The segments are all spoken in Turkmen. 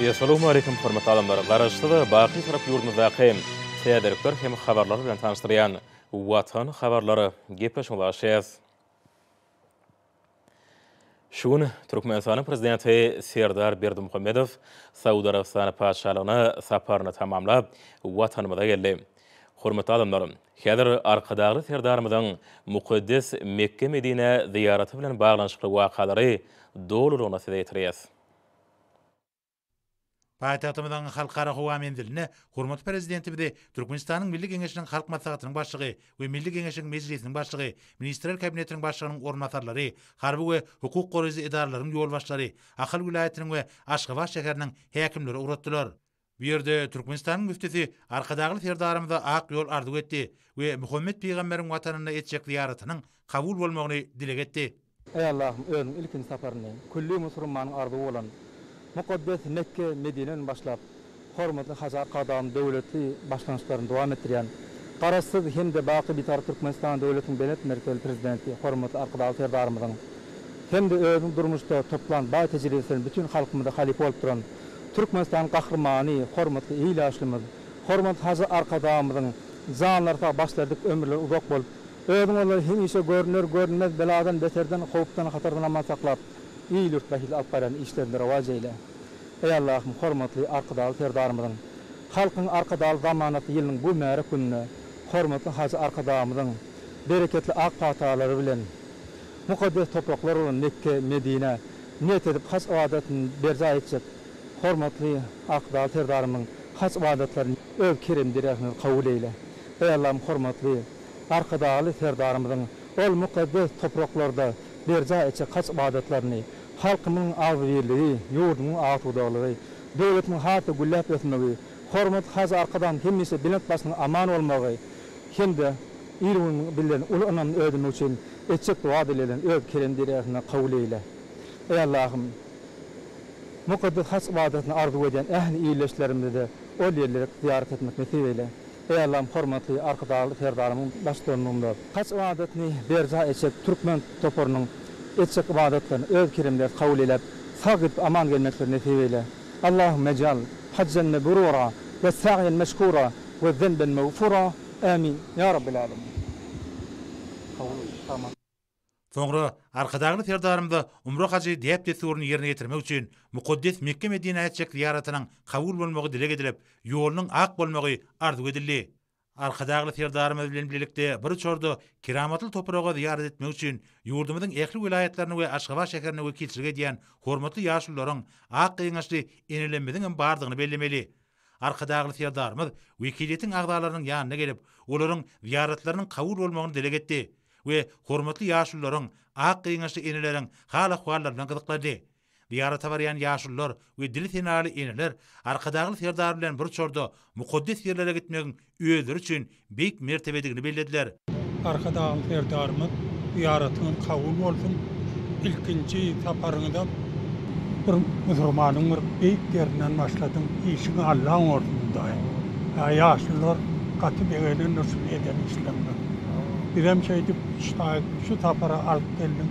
Essalawmaleýkim hormatly adamlar! Garaşsyz, baky Türk ýurdumyzdaky täzelikler hem habarlar bilen tanyşdyrýan Watan habarlary gepleşigi başlaýarys. Şu gün Türkmenistanyň Prezidenti Serdar Berdimuhamedow Saud Arabystany Patyşalygyna saparyny tamamlap, Watanymyza geldi. Hormatly adamlar! Häzir Arkadagly Serdarymyzyň mukaddes Mekge-Medinä zyýaraty bilen baglanyşykly wakalary dolulygyna size ýetirýäs. Paýtagtymyzyň Halkara howa menzilinde hormatly Prezidentimizi Türkmenistanyň Milli Geňeşiniň Halk Maslahatynyň Başlygy we Milli Geňeşiň Mejlisiniň Başlygy, Ministrler Kabinetiniň Başlygynyň orunbasarlary, harby we hukuk goraýjy edaralaryň ýolbaşçylary, Ahal welaýatynyň we Aşgabat şäheriniň häkimleri ugratdylar. Bu ýerde Türkmenistanyň müftüsi Arkadagly Serdarymyza ak ýol arzuw etdi we Muhammet pygamberiň watanyna etjek zyýaratynyň kabul bolmagyny dileg etdi. Eý Allahym, özüň ilkinji saparyny külli musurmanyň arzuwy bolan mukaddes Mekge, Medineden başlap, hormatly Hajy Arkadagyň döwletli başlangyçlaryny dowam etdirýän Garaşsyz hem-de baky Bitarap Türkmenistan döwletiniň belent mertebeli Prezidenti hormatly Arkadagly Serdarymyzyň hem-de özüniň durmuşda toplan baý tejribesini bütin halkymyza halypa bolup duran Türkmenistan Gahrymany, hormatly il ýaşlymyz, hormatly Hajy Arkadagymyzyň janlary sag, başlerdiki ömürleri uzak bolup, özüň onlary hemişe görüner, görünmez beladan, beterden, howpdan, hatardan aman saklap, il-ýurt bähbitli alyp barýan işlerinde rowaç eýle. Eý Allahym, hormatly Arkadagly Serdarymyzyň, Halkyň Arkadagly zamanasy ýylynyň bu mübärek gününde hormatly Hajy Arkadagymyzyň bereketli ak patalary bilen, Mukaddes topraklar bolan Mekge, Medinä niýet edip haj ybadatyny berjaý etjek hormatly Akdag Serdarymyzyň haj ybadatlaryny öz kerem deregine kabul eýle. Eý Allahym hormatly Arkadagly Serdarymyzyň ol mukaddes topraklarda berjaý etjek haj ybadatlaryny halkymyň agzybirligi, ýurdumyň agtudaglygy, döwletimiň has-da gülläp ösmegi, hormatly Hajy Arkadagymyzyň hemişe belent başynyň aman bolmagy, hem-de ir gün bilen uly ynamda ödemek üçin etjek doga-dileglerini Öz kerem-deregetiňde kabul eýle. Eý Allahym! Mukaddes haç ybadatyny arzuw edýän ähli ildeşlerimize-de ol ýerleri zyýarat etmek nesip eýle. Eý Allahym hormatly Arkadagly Serdarymyň baştutanlygynda haç ybadatyny berjaý etjek türkmen toparynyň etjek ybadatlaryny Öz keremderegiňde kabul eýläp, sag gidip aman gelmekleri nesip eýle. Allahümme ij'al hajjan meburura we sa'yen meşkura we zenben mağfura, Amin, Ya Rabbil Alemin. Kabul bolsun. Aman. Soňra Arkadagly Serdarymyza umra-hajy däp-dessuryny ýerine ýetirmek üçin mukaddes Mekge-Medinä etjek zyýaratynyň kabul bolmagy dileg edilip, ýolunyň ak bolmagy arzuw edildi. Arkadagly Serdarymyz bilen birlikde bir uçarda keramatly topraga zyýarat etmek üçin ýurdumyzyň ähli welaýatlaryna we Aşgabat şäherine wekilçilik edýän hormatly ýaşulularyň ak gyňaçly enelerimizigem bardygyny bellemeli. Arkadagly Serdarymyz wekiliýetiň agzalarynyň ýanyna gelip, olaryň zyýaratlarynyň kabul bolmagyny dileg etdi we hormatly ýaşulularyň, ak gyňaçly eneleriň hal-ahwallary bilen gyzyklandy. Zyýarata barýan ýaşulular we dili senaly eneler Arkadagly Serdar bilen bir uçarda mukaddes ýerlere gitmegiň özleri üçin beýik mertebedigini bellediler. Arkadagly Serdarymyz zyýaratyňyz kabul bolsun, ilkinji saparyňyzam bir musurmanyň bir beýik ýerinden başladyň, işiň Alla oňarsyň Hudaýym. Ýa ýaşulular gaty begenendir şuny eden işleriňe. Bizem şeýdip şaýyt şu sapara alyp geldik.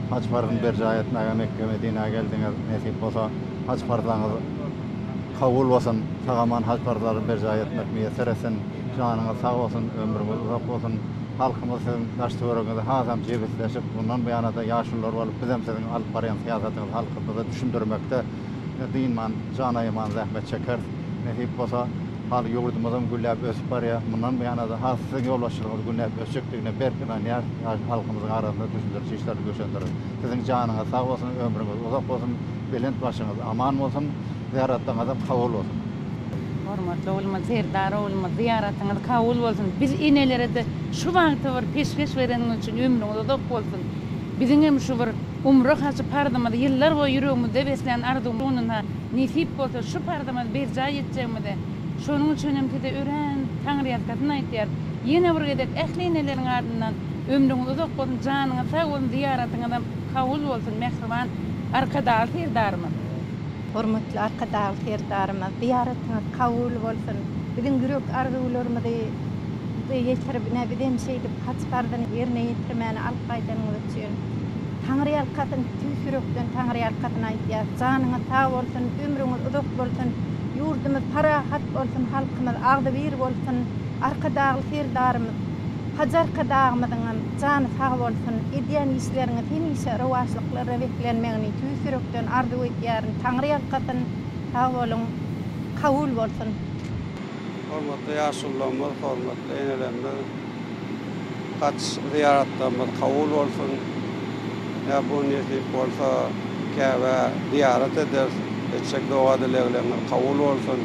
Haj parzyny berjaý etmäge Mekge Medinä geldiňiz. Nesip bolsa haj parzaňyz kabul bolsun. Sag-aman haj parzlary berjaý etmek miýesser etsin. Janyňyz sag bolsun, ömrüňiz uzak bolsun. Halkymyz siziň daş-töweregiňizi hasam jebisleşip, mundan buýana-da ýaşulular bolup bizem siziň alyp barýan syýasatyňyzy halkymyza düşündirmekde, Ine, dynman, jan aýaman zähmet çekeris. Nesip bolsa, hal ýurdumyzam gülläp ösüp barýar. Mundan buýana-da has siziň ýolbaşçylygyňyz gülläp ösjekdigine berk ynanýarys. Ýaş halkymyzyň arasynda düşündiriş işlerini güýçlendireris. Siziň janyňyz sag bolsun, ömrüňiz uzak bolsun, belent başyňyz aman bolsun, zyýaratlaryňyzam kabul bolsun! Hormatly oglumyz Serdar oglumyz zyýaratyňyz kabul bolsun. Biz enelere-de şu bagty bir peşgeş bereniňiz üçin ömrüňiz uzak bolsun. Biziňem şu bir Umra hajy parzymyzy ýyllar boýy ýüregimizde beslän arzuwymyz şonda nesip bolsa şu parzymyzy berjaý etjegimize şonuň üçin hem size örän taňryýalkasyn aýtýarys. Ýene bir gezek ähli eneleriň adyndan ömrüňiz uzak bolsun, janyňyz sag bolsun, zyýaratyňyzam kabul bolsun mähriban Arkadagly Serdarymyz. Hormatly Arkadagly Serdarymyz zyýaratyňyz kabul bolsun. Biziň ýürek arzuwlarymyzy ýetirip ine bizem şeýdip Haç parzyny ýerine ýetirmäni alyp gaýdanyňyz üçin Taňryýalkasyn, tüýs ýürekden Taňryýalkasyn aýdýas. Janyňyz sag bolsun, ömrüňiz uzak bolsun, ýurdumyz parahat bolsun, halkymyz agzybir bolsun, Arkadagly Serdarymyz, Hajy Arkadagymyzyňam jany sag bolsun, edýän işleriňiz hemişe rowaçlyklara beslenmegini tüýs ýürekden arzuw edýärin. Taňryýalkasyn, sag boluň, kabul bolsun! Hormatly ýaşulylarymyz, hormatly enelerimiz! Haç zyýaratlarymyz kabul bolsun. Näbun nesip bolsa Käbä zyýarat ederis. Etjek doga-dileglerňiz kabul bolsun.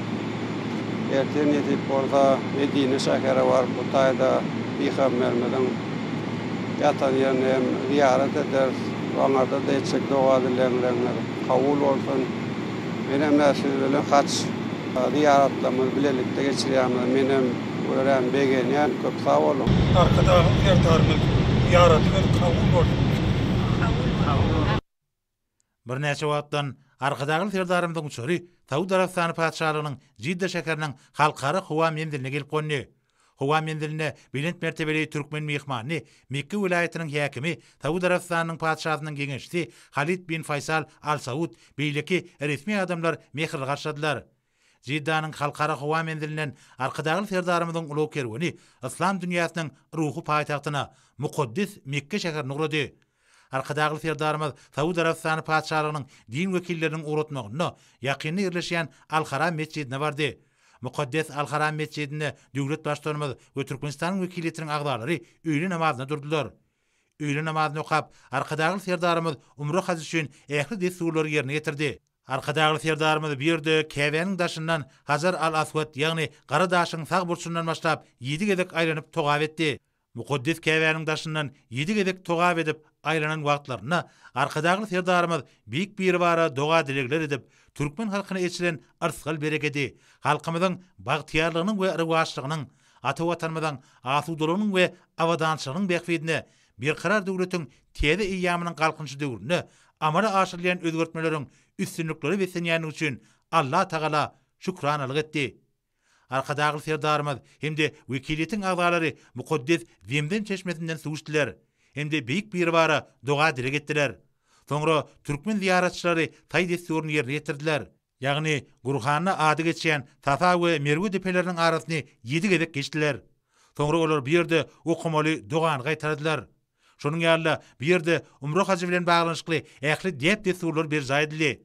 Ertir nesip bolsa Medine şähere baryp bu taýda Pygamberimiziň ýatan ýerine hem zyýarat ederis. Oňarda-da etjek doga-dileglerňiz kabul bolsun. Menem-ä siz bilen haç zyýaratlarymyzy bilelikde geçirýämiz. Menem. Görän begenýän köp sag boluň. Arkadagym Serdarymyz ýaradyber kabul bolsun. Kabul bolsun. Birnäçe wagtdan Arkadagly Serdarymyzyň uçary Saud Arabystany Patyşalygynyň Jidda şäheriniň Halkara howa menziline gelip gondy. Howa menzilinde belent mertebeli türkmen myhmanyny Mekge welaýatynyň häkimi, Saud Arabystanynyň Patyşasynyň geňeşçisi Halid bin Faýsal Al Saud, beýleki resmi adamlar mähirli garşyladylar. Jiddanyň Halkara howa menzilinden Arkadagly Serdarymyzyň ulag kerweni yslam dünýäsiniň ruhy paýtagtyna, mukaddes Mekge şäherine ugrady. Arkadagly Serdarymyz Saud Arabystany Patyşalygynyň din wekilleriniň ugratmagynda ýakynda ýerleşýän Al-Haram metjidine bardy. Mukaddes Al-Haram metjidinde döwlet Baştutanymyz we Türkmenistanyň wekiliýetiniň agzalary öýle namazyna durdular. Öýle namazyny okap, Arkadagly Serdarymyz umra hajy üçin ähli dessurlary ýerine ýetirdi. Arkadagly Serdarymyz bu ýerde Käbäniň daşyndan Hajar al-Aswat, ýagny Gara daşyň sag burçundan başlap, ýedi gezek aýlanyp togap etdi. Mukaddes Käbäniň daşyndan ýedi gezek togap edip, aýlanan wagtlarynda Arkadagly Serdarymyz Beýik Biribara doga-dilegler edip, türkmen halkyna eçilen yrsgal-berekedi, halkymyzyň bagtyýarlygynyň we rowaçlygynyň, ata Watanymyzyň asudalygynyň we abadançylygynyň bähbidine Berkarar döwletiň täze eýýamynyň Galkynyşy döwründe amala aşyrylýan özgertmeleriň üstünliklere beslenýändigi üçin Allatagala şükranalyk etdi. Arkadagly Serdarymyz hem-de wekiliýetiň agzalary mukaddes Zemzem çeşmesinden suw içdiler hem-de Beýik Biribara doga-dileg etdiler. Soňra türkmen zyýaratçylary taý dessuryny ýerine ýetirdiler. Ýagny, Gurhanda ady geçýän Safa we Merwe depeleriniň arasyny ýedi gezek geçdiler. Soňra olar bu ýerde okamaly dogany gaýtaladylar. Şonuň ýaly-da, bu ýerde umra hajy bilen baglanyşykly ähli däp-dessurlar berjaý edildi.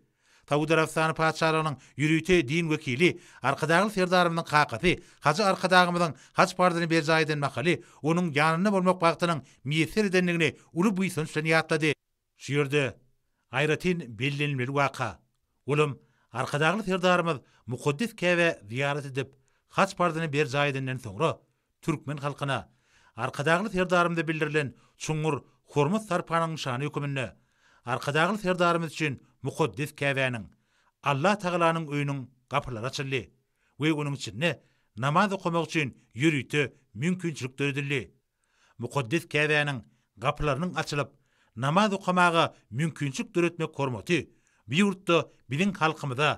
Saud Arabystany Patyşalygynyň ýörite din wekili, Arkadagly Serdarymyzyň kakasy hajy Arkadagymyzyň haj parzyny berjaý eden mahaly onuň ýanynda bolmak bagtynyň miýesser edendigini uly buýsanç bilen ýatlady. Şu ýerde aýratyn bellenilmeli waka, olam Arkadagly Serdarymyz mukaddes Käbä zyýarat edip, haç parzyny berjaý edenden soňra, türkmen halkyna Arkadagly Serdarymyza bildirilen çuňňur hormat-sarpanyň nyşany höküminde Arkadagly Serdarymyz üçin mukaddes Käbäniň, Allah Tagalanyň öýüniň gapylary açyldy we onuň içinde namaz okamak üçin ýörite mümkinçilik döredildi. Mukaddes Käbäniň gapylarynyň açylyp, namaz okamaga mümkinçilik döretmek hormaty bu ýurtda biziň halkymyza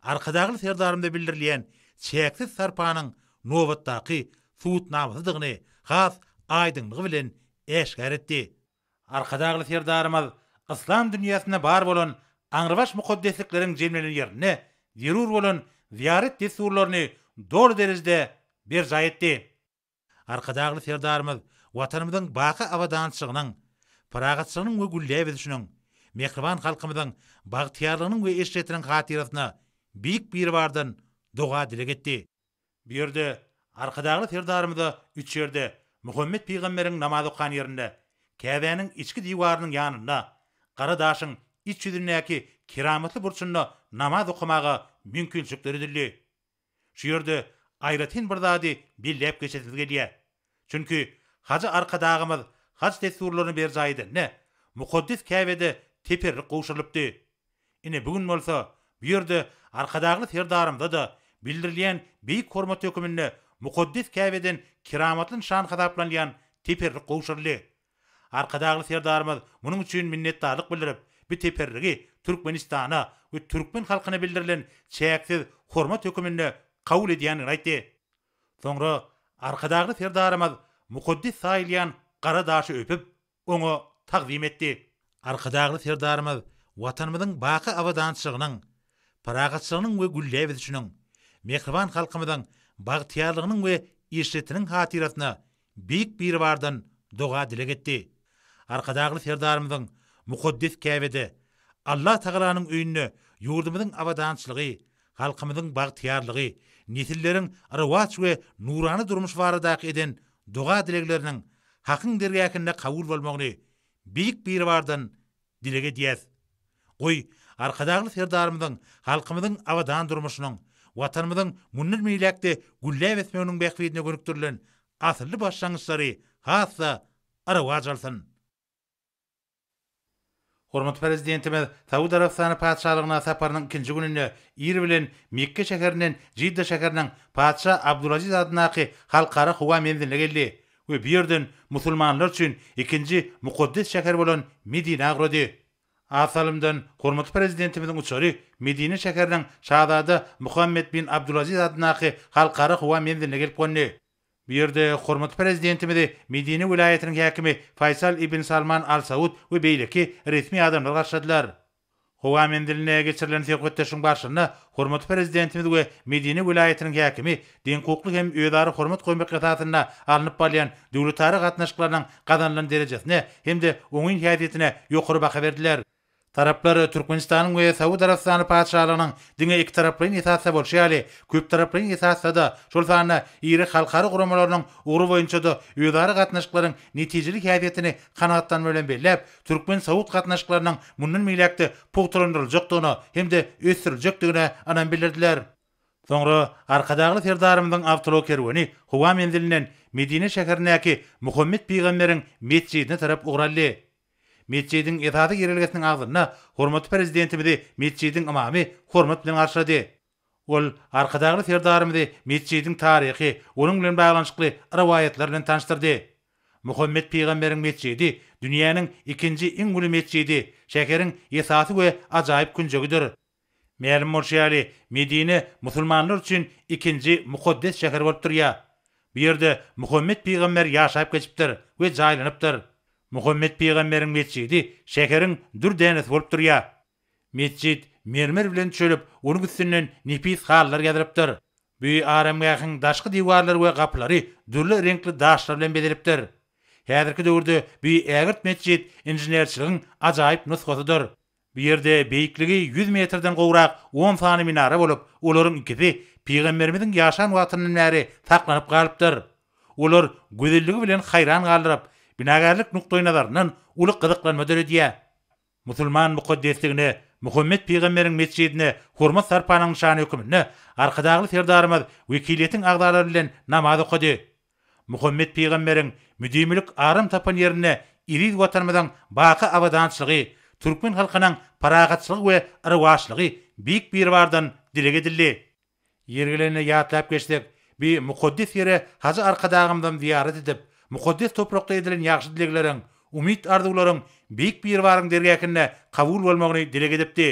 Arkadagly Serdarymyza bildirilýän çäksiz sarpanyň nobatdaky subutnamasydygyny has aýdyňlygy bilen äşgär etdi. Arkadagly Serdarymyz yslam dünýäsinde bar bolan aňrybaş mukaddeslikleriň jemlenen ýerinde zerur bolan zyýarat dessurlaryny doly derejede berjaý etdi. Arkadagly Serdarymyz Watanymyzyň baky abadançylygynyň, parahatçylygynyň we gülläp ösüşiniň, mähriban halkymyzyň bagtyýarlygynyň we eşretiniň hatyrasyna Beýik Biribardan doga-dileg etdi. Bu ýerde Arkadagly Serdarymyza üç ýerde, Muhammet pygamberiň namaz okan ýerinde, Käbäniň içki diwarynyň ýanynda, Gara daşyň iç ýüzündäki keramatly burçunda namaz okamaga mümkinçilik döredildi. Şu ýerde aýratyn bir zady belläp geçesiz gelýär. Çünki Hajy Arkadagymyz haj dessurlaryny berjaý edende, mukaddes Käbede teperrik gowşurylypdy. Ine, bu gün bolsa, bu ýerde Arkadagly Serdarymyza-da bildirilýän beýik hormat höküminde mukaddes Käbeden keramatly nyşan hasaplanylýan teperrik gowşuryldy. Arkadagly Serdarymyz munuň üçin minnetdarlyk bildirip, bu teperrigi Türkmenistana we türkmen halkyna bildirilen çäksiz hormat höküminde kabul edýändigini aýtdy. Soňra Arkadagly Serdarymyz mukaddes saýylýan gara daşy öpüp, oňa tagzym etdi. Arkadagly Serdarymyz Watanymyzyň baky abadançylygynyň, parahatçylygynyň we gülläp ösüşiniň, mähriban halkymyzyň bagtyýarlygynyň we eşretiniň hatyrasyna Beýik Biribardan doga-dileg etdi. Arkadagly Serdarymyzyň mukaddes Käbede, Alla Tagalanyň öýünde ýurdumyzyň abadançylygy, halkymyzyň bagtyýarlygy, nesilleriň rowaç we nurana durmuşy baradaky eden doga-dilegleriniň Hakyň dergähinde kabul bolmagyny Beýik Biribardan Dileg edýäs. Goý, Arkadagly Serdarymyzyň halkymyzyň abadan durmuşynyň, Watanymyzyň mundan beýläk-de gülläp ösmeginiň bähbidine gönükdirilen asylly başlangyçlary has-da arawaç alsyn! Hormatly Prezidentimiz Saud Arabystany Patyşalygyna saparynyň ikinji gününde ir bilen Mekge şäherinden Jidda şäheriniň Patyşa Abdulaziz adyndaky Halkara howa menziline geldi We bu ýerden musulmanlar üçin ikinji mukaddes şäher bolan Medinä ugrady. A salymdan hormatly Prezidentimiziň uçary Medine şäheriniň Şazada Muhammed bin Abdulaziz adyndaky Halkara howa menziline gelip gondy. Bu ýerde hormatly Prezidentimizi Medine welaýatynyň häkimi Faýsal ibn Salman Al Saud we beýleki resmi adamlar garşyladylar. Howa menzilinde geçirilen söhbetdeşligiň barşynda hormatly Prezidentimiz we Medine welaýatynyň häkimi deňhukukly hem özara hormat goýmak esasynda alnyp barylýan döwletara gatnaşyklarynyň gazanylan derejesine hem-de oňyn häsiýetine ýokary baha berdiler. Taraplar Türkmenistanyň we Saud Arabystany Patyşalygynyň diňe ikitaraplaýyn esasda bolşy ýaly, köptaraplaýyn esasda-da, şol sanda iri halkara guramalarynyň ugry boýunça-da özara gatnaşyklaryň netijeli häsiýetini kanagatlanma bilen belläp, türkmen-saud gatnaşyklarynyň mundan beýläk-de pugtalandyryljakdygyna hem-de ösdüriljekdigine ynam bildirdiler. Soňra Arkadagly Serdarymyzyň awtoulag kerweni howa menzilinden Medine şäherindäki Muhammet pygamberiň metjidine tarap ugraldy. Metjidiň esasy girelgesiniň agzynda hormatly Prezidentimizi metjidiň ymamy hormat bilen garşylady. Ol Arkadagly Serdarymyzy metjidiň taryhy, onuň bilen baglanyşykly rowaýatlar bilen tanyşdyrdy. Muhammet pygamberiň metjidi dünýäniň ikinji iň uly metjidi, şäheriň esasy we ajaýyp künjegidir. Mälim bolşy ýaly, Medine musulmanlar üçin ikinji mukaddes şäher bolup durýar. Bu ýerde Muhammet pygamber ýaşap geçipdir we jaýlanypdyr. Muhammet pygamberiň metjidi şäheriň dür dänesi bolup durýar. Metjit mermer bilen çölüp, onuň üstünden nepis halylar ýazylypdyr. Bu aramgähiň daşky diwarlary we gapylary dürli reňkli daşlar bilen bezelipdir. Häzirki döwürde bu ägirt metjit inženerçiligiň ajaýyp nusgasydyr. Bu ýerde beýikligi ýüz metrden gowrak on sany minara bolup, olaryň ikisi pygamberimiziň ýaşan wagtyndan bäri saklanyp galypdyr. Olar gözelligi bilen haýran galdyryp, binagärlik nukdaýnazaryndan uly gyzyklanma döredýär. Musulman mukaddesligine Muhammet pygamberiň metjidine hormat-sarpanyň nyşany höküminde Arkadagly Serdarymyz wekiliýetiň agzalary bilen namaz okady. Muhammet pygamberiň müdimilik aram tapan ýerinde eziz Watanymyzyň baky abadançylygy, türkmen halkynyň parahatçylygy we rowaçlygy Beýik Biribardan dileg edildi. Ýeri gelende ýatlap geçsek, bi mukaddes ýere Hajy Arkadagymyzam zyýarat edip, mukaddes toprakda edilen ýagşy dilegleriň, umyt-arzuwlaryň Beýik Biribaryň dergähinde kabul bolmagyny dileg edipdi.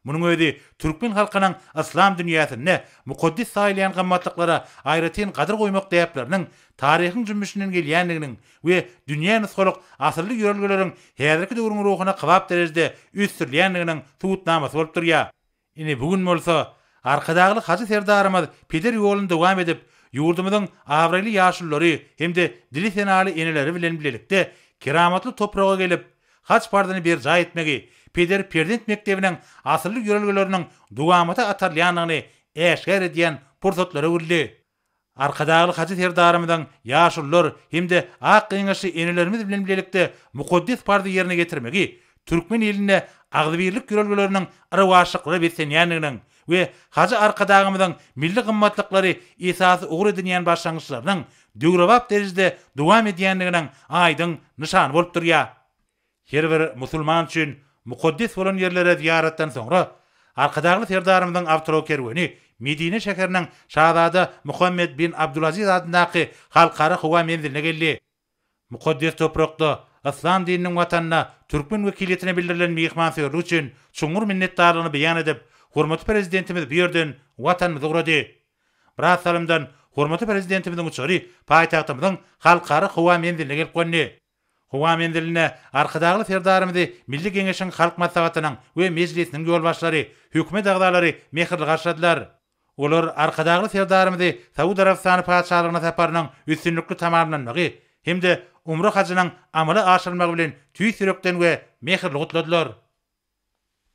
Munuň özi türkmen halkynyň yslam dünýäsinde mukaddes saýylýan gymmatlyklara aýratyn gadyr goýmak däpleriniň taryhyň jümmüşinden gelýändiginiň we dünýä nusgalyk asylly ýörelgeleriň häzirki döwrüň ruhuna kybap derejede ösdürilýändiginiň subutnamasy bolup durýar. Ine, bu gün bolsa Arkadagly Hajy Serdarymyz peder ýoluny dowam edip, ýurdumyzyň abraýly ýaşululary hem-de dili senaly eneleri bilen bilelikde keramatly topraga gelip, haj parzyny berjaý etmegi, peder-perzent mekdebiniň asylly ýörelgeleriniň dowamata atarylýandygyny äşgär edýän pursatlary öwrüldi. Arkadagly Hajy Serdarymyzyň ýaşulular hem-de ak geňeşli enelerimiz bilen bilelikde mukaddes parzy ýerine ýetirmegi türkmen ilinde agzybirlik ýörelgeleriniň yrawaçlyklara beslenýändiginiň we Hajy Arkadagymyzyň milli gymmatlyklary esasy ugur edinýän başlangyçlarynyň döwrebap derejede dowam edýändiginiň aýdyň nyşany bolup durýar. Her bir musulman üçin mukaddes bolan ýerlere zyýaratdan soňra, Arkadagly Serdarymyzyň awtokerweni Medine şäheriniň Şazada Muhammed bin Abdulaziz adyndaky Halkara howa menziline geldi. Mukaddes toprakda, Yslam dininiň watanynda türkmen wekiliýetine bildirilen myhmansöýerlik üçin çuňňur minnetdarlygyny beýan edip, hormatly Prezidentimiz bu ýerden Watanymyza ugrady. Biraz salymdan hormatly Prezidentimiziň uçary paýtagtymyzyň Halkara howa menziline gelip gondy. Howa menzilinde Arkadagly Serdarymyzy Milli Geňeşiň Halk Maslahatynyň we Mejlisiniň ýolbaşçylary, hökümet agzalary mähirli garşyladylar. Olar Arkadagly Serdarymyzy Saud Arabystany Patyşalygyna saparynyň üstünlikli tamamlanmagy hem-de Umra hajynyň amala aşyrylmagy bilen tüýs ýürekden we mähirli gutladylar.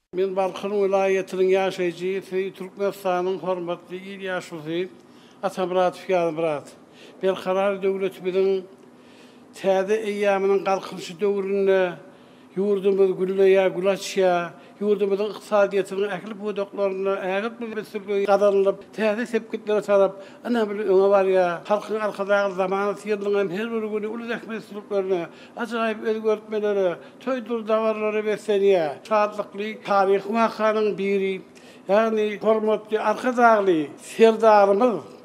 Men Balkan welaýatynyň ýaşaýjysy, Türkmenistanyň hormatly il ýaşulusy Atamyradow Ýazmyrat. Berkarar döwletimiziň täze eýýamynyň Galkynyşy döwründe ýurdumyz gülleýär, gül açýar. Ýurdumyzyň ykdysadyýetiniň ähli pudaklarynda ägirt ösüşler gazanylyp, täze sepgitlere tarap ynamly öňe barýar. Halkyň Arkadagly zamanasy ýylynyň hem her bir güni uly zähmetsüzlüklerine, ajaýyp özgertmelere, Toýdur dabaralary beslenýär. Şatlykly taryhy wakanyň biri, ýagny hormatly Arkadagly Serdarymyz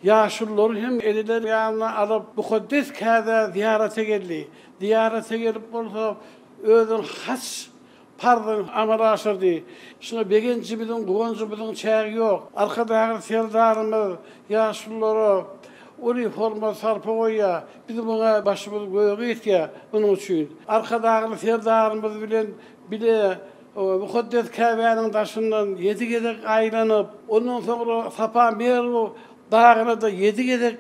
ýaşululary hem eneleri ýanyna alyp, mukaddes kädä zyýarata geldi. Zyýarata gelip bolsa, özüniň haç parzyny amala aşyrdy. Şuňa begenjimiziň, guwanjymyzyň çägi ýok. Arkadagly Serdarymyz ýaşululara uly hormat-sarpa goýýar. Biz muňa başymyz göge ýetýär. Munuň üçin Arkadagly Serdarymyz bilen bile mukaddes Käbäniň daşyndan ýedi gezek aýlanyp, ondan soňra Safa Merw dagyna-da ýedi gezek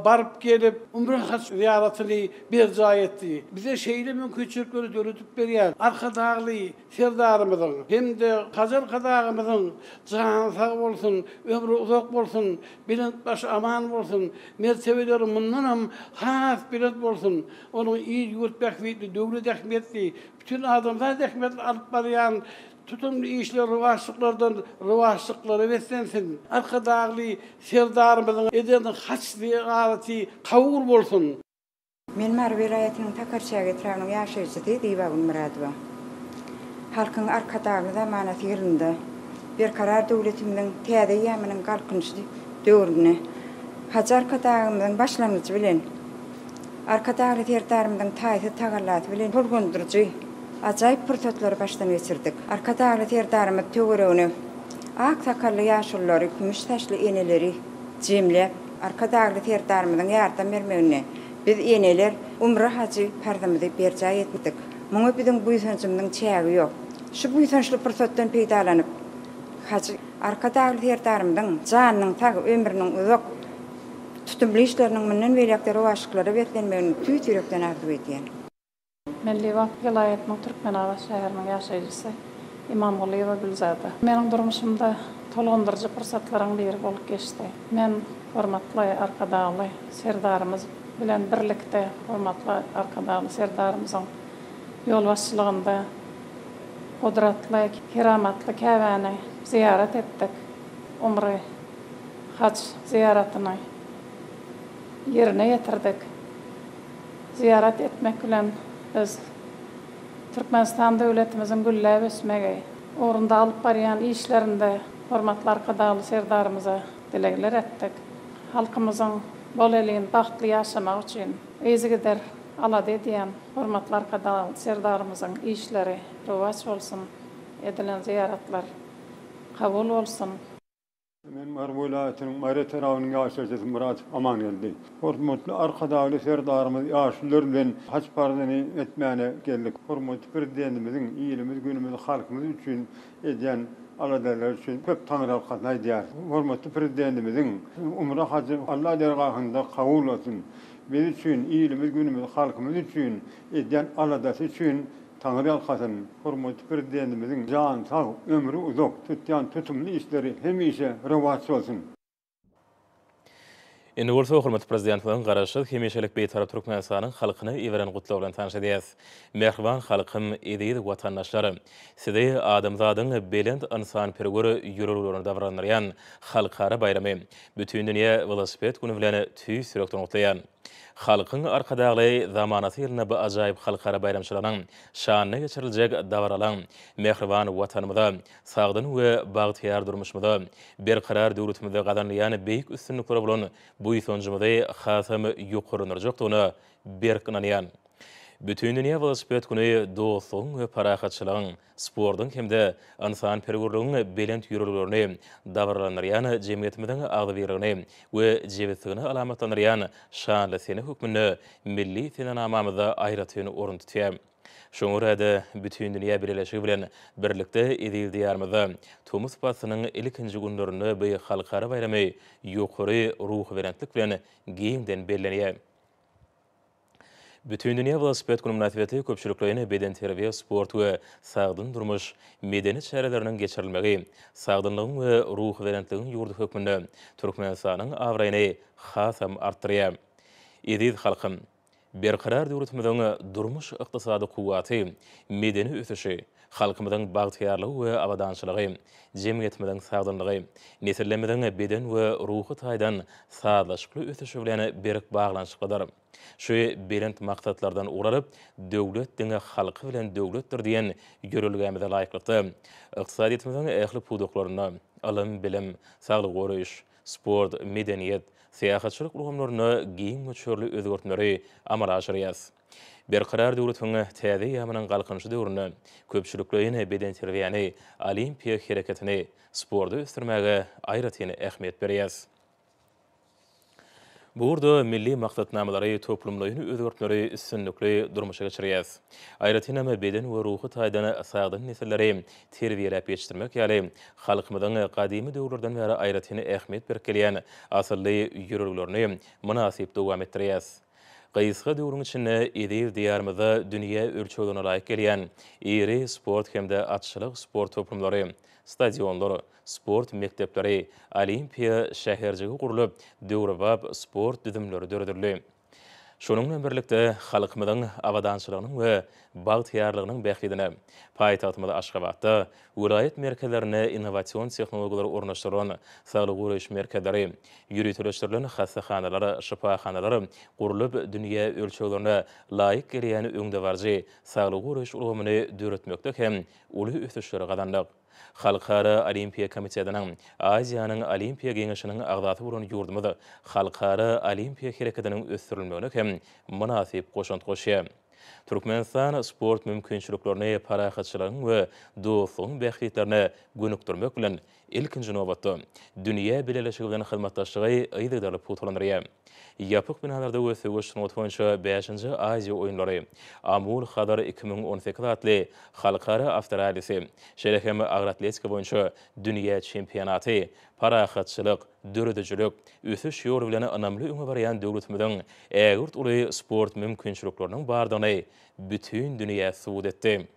baryp gelip, umra haj zyýaratyny berjaý etdi. Bize şeýle mümkinçilikleri döredip berýän Arkadagly Serdarymyzyň hem-de Hajar Kadagymyzyň jany sag bolsun, ömri uzak bolsun, belent başy aman bolsun, mertebeleri mundanam has belent bolsun! Onuň il-ýurt bähbitli, döwlet ähmiýetli, bütin adamzat ähmiýetli alyp barýan tutumly işleri rowaçlyklardan rowaçlyklara beslensin! Arkadagly Serdarymyzyň eden haçly-agaty kabul bolsun! Men Mary welaýatynyň Takarçäge etrabynyň ýaşaýjysy Zyba Gulmyradowa. Halkyň Arkadagly zamanasy ýylynda Berkarar döwletimiziň täze eýýamynyň Galkynyşy döwründe Hajy Arkadagymyzyň başlangyjy bilen Arkadagly Serdarymyzyň taýsyz tagallasy bilen tolgundyryjy, ajaýyp pursatlary başdan geçirdik. Arkadagly Serdarymyz töweregine ak sakally ýaşululary, kümüş saçly eneleri jemläp, Arkadagly Serdarymyzyň ýardam bermeginde biz eneler umra hajy parzymyzy berjaý etdik. Muňa biziň buýsanjymyzyň çägi ýok. Şu buýsançly pursatdan peýdalanyp, hajy Arkadagly Serdarymyzyň janynyň sag, ömrüniň uzak, tutumly işleriniň mundan beýläk-de rowaçlyklara beslenmegini tüýs ýürekden arzuw edýän. Milli wagt welaýatynyň Türkmenabat şäheriniň ýaşaýjysy Imamgulyýewa Gülzada. Meniň durmuşymda tolgundyryjy pursatlaryň biri bolup geçdi. Men hormatly Arkadagly Serdarymyz bilen birlikde hormatly Arkadagly Serdarymyzyň ýolbaşçylygynda gudratly, keramatly Käbäni zyýarat etdik. Umry haj zyýaratyny ýerine ýetirdik. Zyýarat etmek bilen biz Türkmenistan döwletimiziň gülläp ösmegi ugrunda alyp barýan işlerinde hormatly Arkadagly Serdarymyza dilegler etdik. Halkymyzyň bolelin, bagtly ýaşamagy üçin yzygider alada edýän hormatly Arkadagly Serdarymyzyň işleri rowaç bolsun, edilen zyýaratlar kabul bolsun! Men Mary welaýatynyň Mary etrabynyň ýaşaýjysy Myrat Amangeldi. Hormatly Arkadagly Serdarymyz ýaşulylar bilen haç parzyny etmäne geldik. Hormatly Prezidentimiziň ilimiz, günümiz, halkymyz üçin edýän aladalary üçin köp taňyrýalkasyn aýdýarys. Hormatly Prezidentimiziň umra hajy Alla dergahynda kabul bolsun. Biz üçin, ilimiz, günümiz, halkymyz üçin edýän aladasy üçin Taňryýalkasyn, hormatly Prezidentimiziň jany sag, ömri uzak, tutýan tutumly işleri hemişe rowaç bolsun! Indi bolsa hormatly Prezidentimiziň Garaşsyz, hemişelik Bitarap Türkmenistanyň halkyna iberen gutlagy bilen tanyş edýäs. Mähriban halkym, eziz watandaşlar! Sizi adamzadyň belent ynsanperwer ýüreglerini dabaralandyrýan Halkara baýramy, Bütindünýä welosiped güni bilen tüýs ýürekden gutlaýan. Halkyň Arkadagly zamanasy ýylynda bu ajaýyp halkara baýramçylygynyň şanyna geçiriljek dabaralaň mähriban Watanymyza, sagdyn we bagtyýar durmuşymyza, berkarar döwletimizde gazanylýan beýik üstünliklere bolan buýsanjymyzy hasam ýokarlandyrjakdygyna berk ynanýan. Bütindünýä welosiped güni dostlugyň we parahatçylygyň, sportuň hem-de ynsanperwerligiň belent ýörelgelerini dabaralandyrýan jemgyýetimiziň agzybirligini we jebisligini alamatlandyrýan şanly sene hökmünde milli senenamamyzda aýratyn orun tutýar. Şoňa görä-de, bütindünýä bileleşigi bilen birlikde eziz Diýarymyzda tomus paslynyň ilkinji günlerinde bu halkara baýramy ýokary ruhubelentlik bilen giňden bellenýär. Bütindünýä welosiped güni mynasybetli köpçülikleýin bedenterbiýe, sport we sagdyn durmuş medeni çäreleriniň geçirilmegi sagdynlygyň we ruhubelentligiň ýurdy hökmünde Türkmenistanyň abraýyny hasam artdyrýar. Eziz halkym! Berkarar döwletimiziň durmuş-ykdysady kuwwaty, medeni ösüşi, Halkymyzyň bagtyýarlygy we abadançylygy, jemgyýetimiziň sagdynlygy, nesillerimiziň beden we ruhy taýdan sazlaşykly ösüşi bilen berk baglanyşyklydyr. Şu belent maksatlardan ugur alyp, Döwlet diňe halky bilen döwletdir diýen ýörelgämize laýyklykda, ykdysadyýetimiziň ähli pudaklarynda, ylym-bilim, saglygy goraýyş, sport, medeniýet, syýahatçylyk ulgamlarynda giň möçberli özgertmeleri amala aşyrýarys. Berkarar döwletiň täze eýýamynyň Galkynyşy döwründe köpçülikleýin bedenterbiýäni, olimpiýa hereketini, sporty ösdürmäge aýratyn ähmiýet berýäris. Bu ugurda milli maksatnamalary, toplumlaýyn özgertmeleri üstünlikli durmuşa geçirýäris. Aýratynam, beden we ruhy taýdan sagdyn nesilleri terbiýeläp ýetişdirmek ýaly halkymyzyň gadymy döwürlerden bäri aýratyn ähmiýet berip gelýän asylly ýörelgelerini mynasyp dowam etdirýäris. Gysga döwrüň içinde eziz Diýarymyzda dünýä ölçeglerine laýyk gelýän iri sport hem-de atçylyk sport toplumlary, stadionlar, sport mekdepleri, Olimpiýa şäherjigi gurlup, döwrebap sport düzümleri döredildi. Şunuň bilen birlikde, halkymyzyň abadançylygynyň we bagtyýarlygynyň bähbidine paýtagtymyz Aşgabatda Welaýat merkezlerine innowasion tehnologiýalary ornaşdyrylan saglygy goraýyş merkezleri, ýöriteleşdirilen hassahanalar, şypahanalar gurlup, dünýä ölçeglerine laýyk gelýän öňdebaryjy saglygy goraýyş ulgamyny döretmekde hem uly ösüşleri gazandyk. Halkara Olimpiýa komitetiniň Aziýanyň Olimpiýa geňeşiniň agzasy bolan ýurdumyz halkara olimpiýa hereketiniň ösdürilmegine hem mynasyp goşant goşýar. Türkmenistan sport mümkinçiliklerini parahatçylygyň we dostlugyň bähbitlerine gönükdirmek bilen, ilkinji nobatda, dünýä bileleşigi bilen hyzmatdaşlygy yzygiderli pugtalandyrýar. Ýapyk binalarda we söweş sungaty boýunça bäşinji Aziýa oýunlary, Amul Hazar iki müň on sekiz atly halkara awtorallisi, şeýle hem agratletika boýunça dünýä çempionaty Parahatçylyk, döredijilik, ösüş ýoly bilen ynamly öňe barýan döwletimiziň ägirt uly sport mümkinçilikleriniň bardygyny bütin dünýä subut etdi.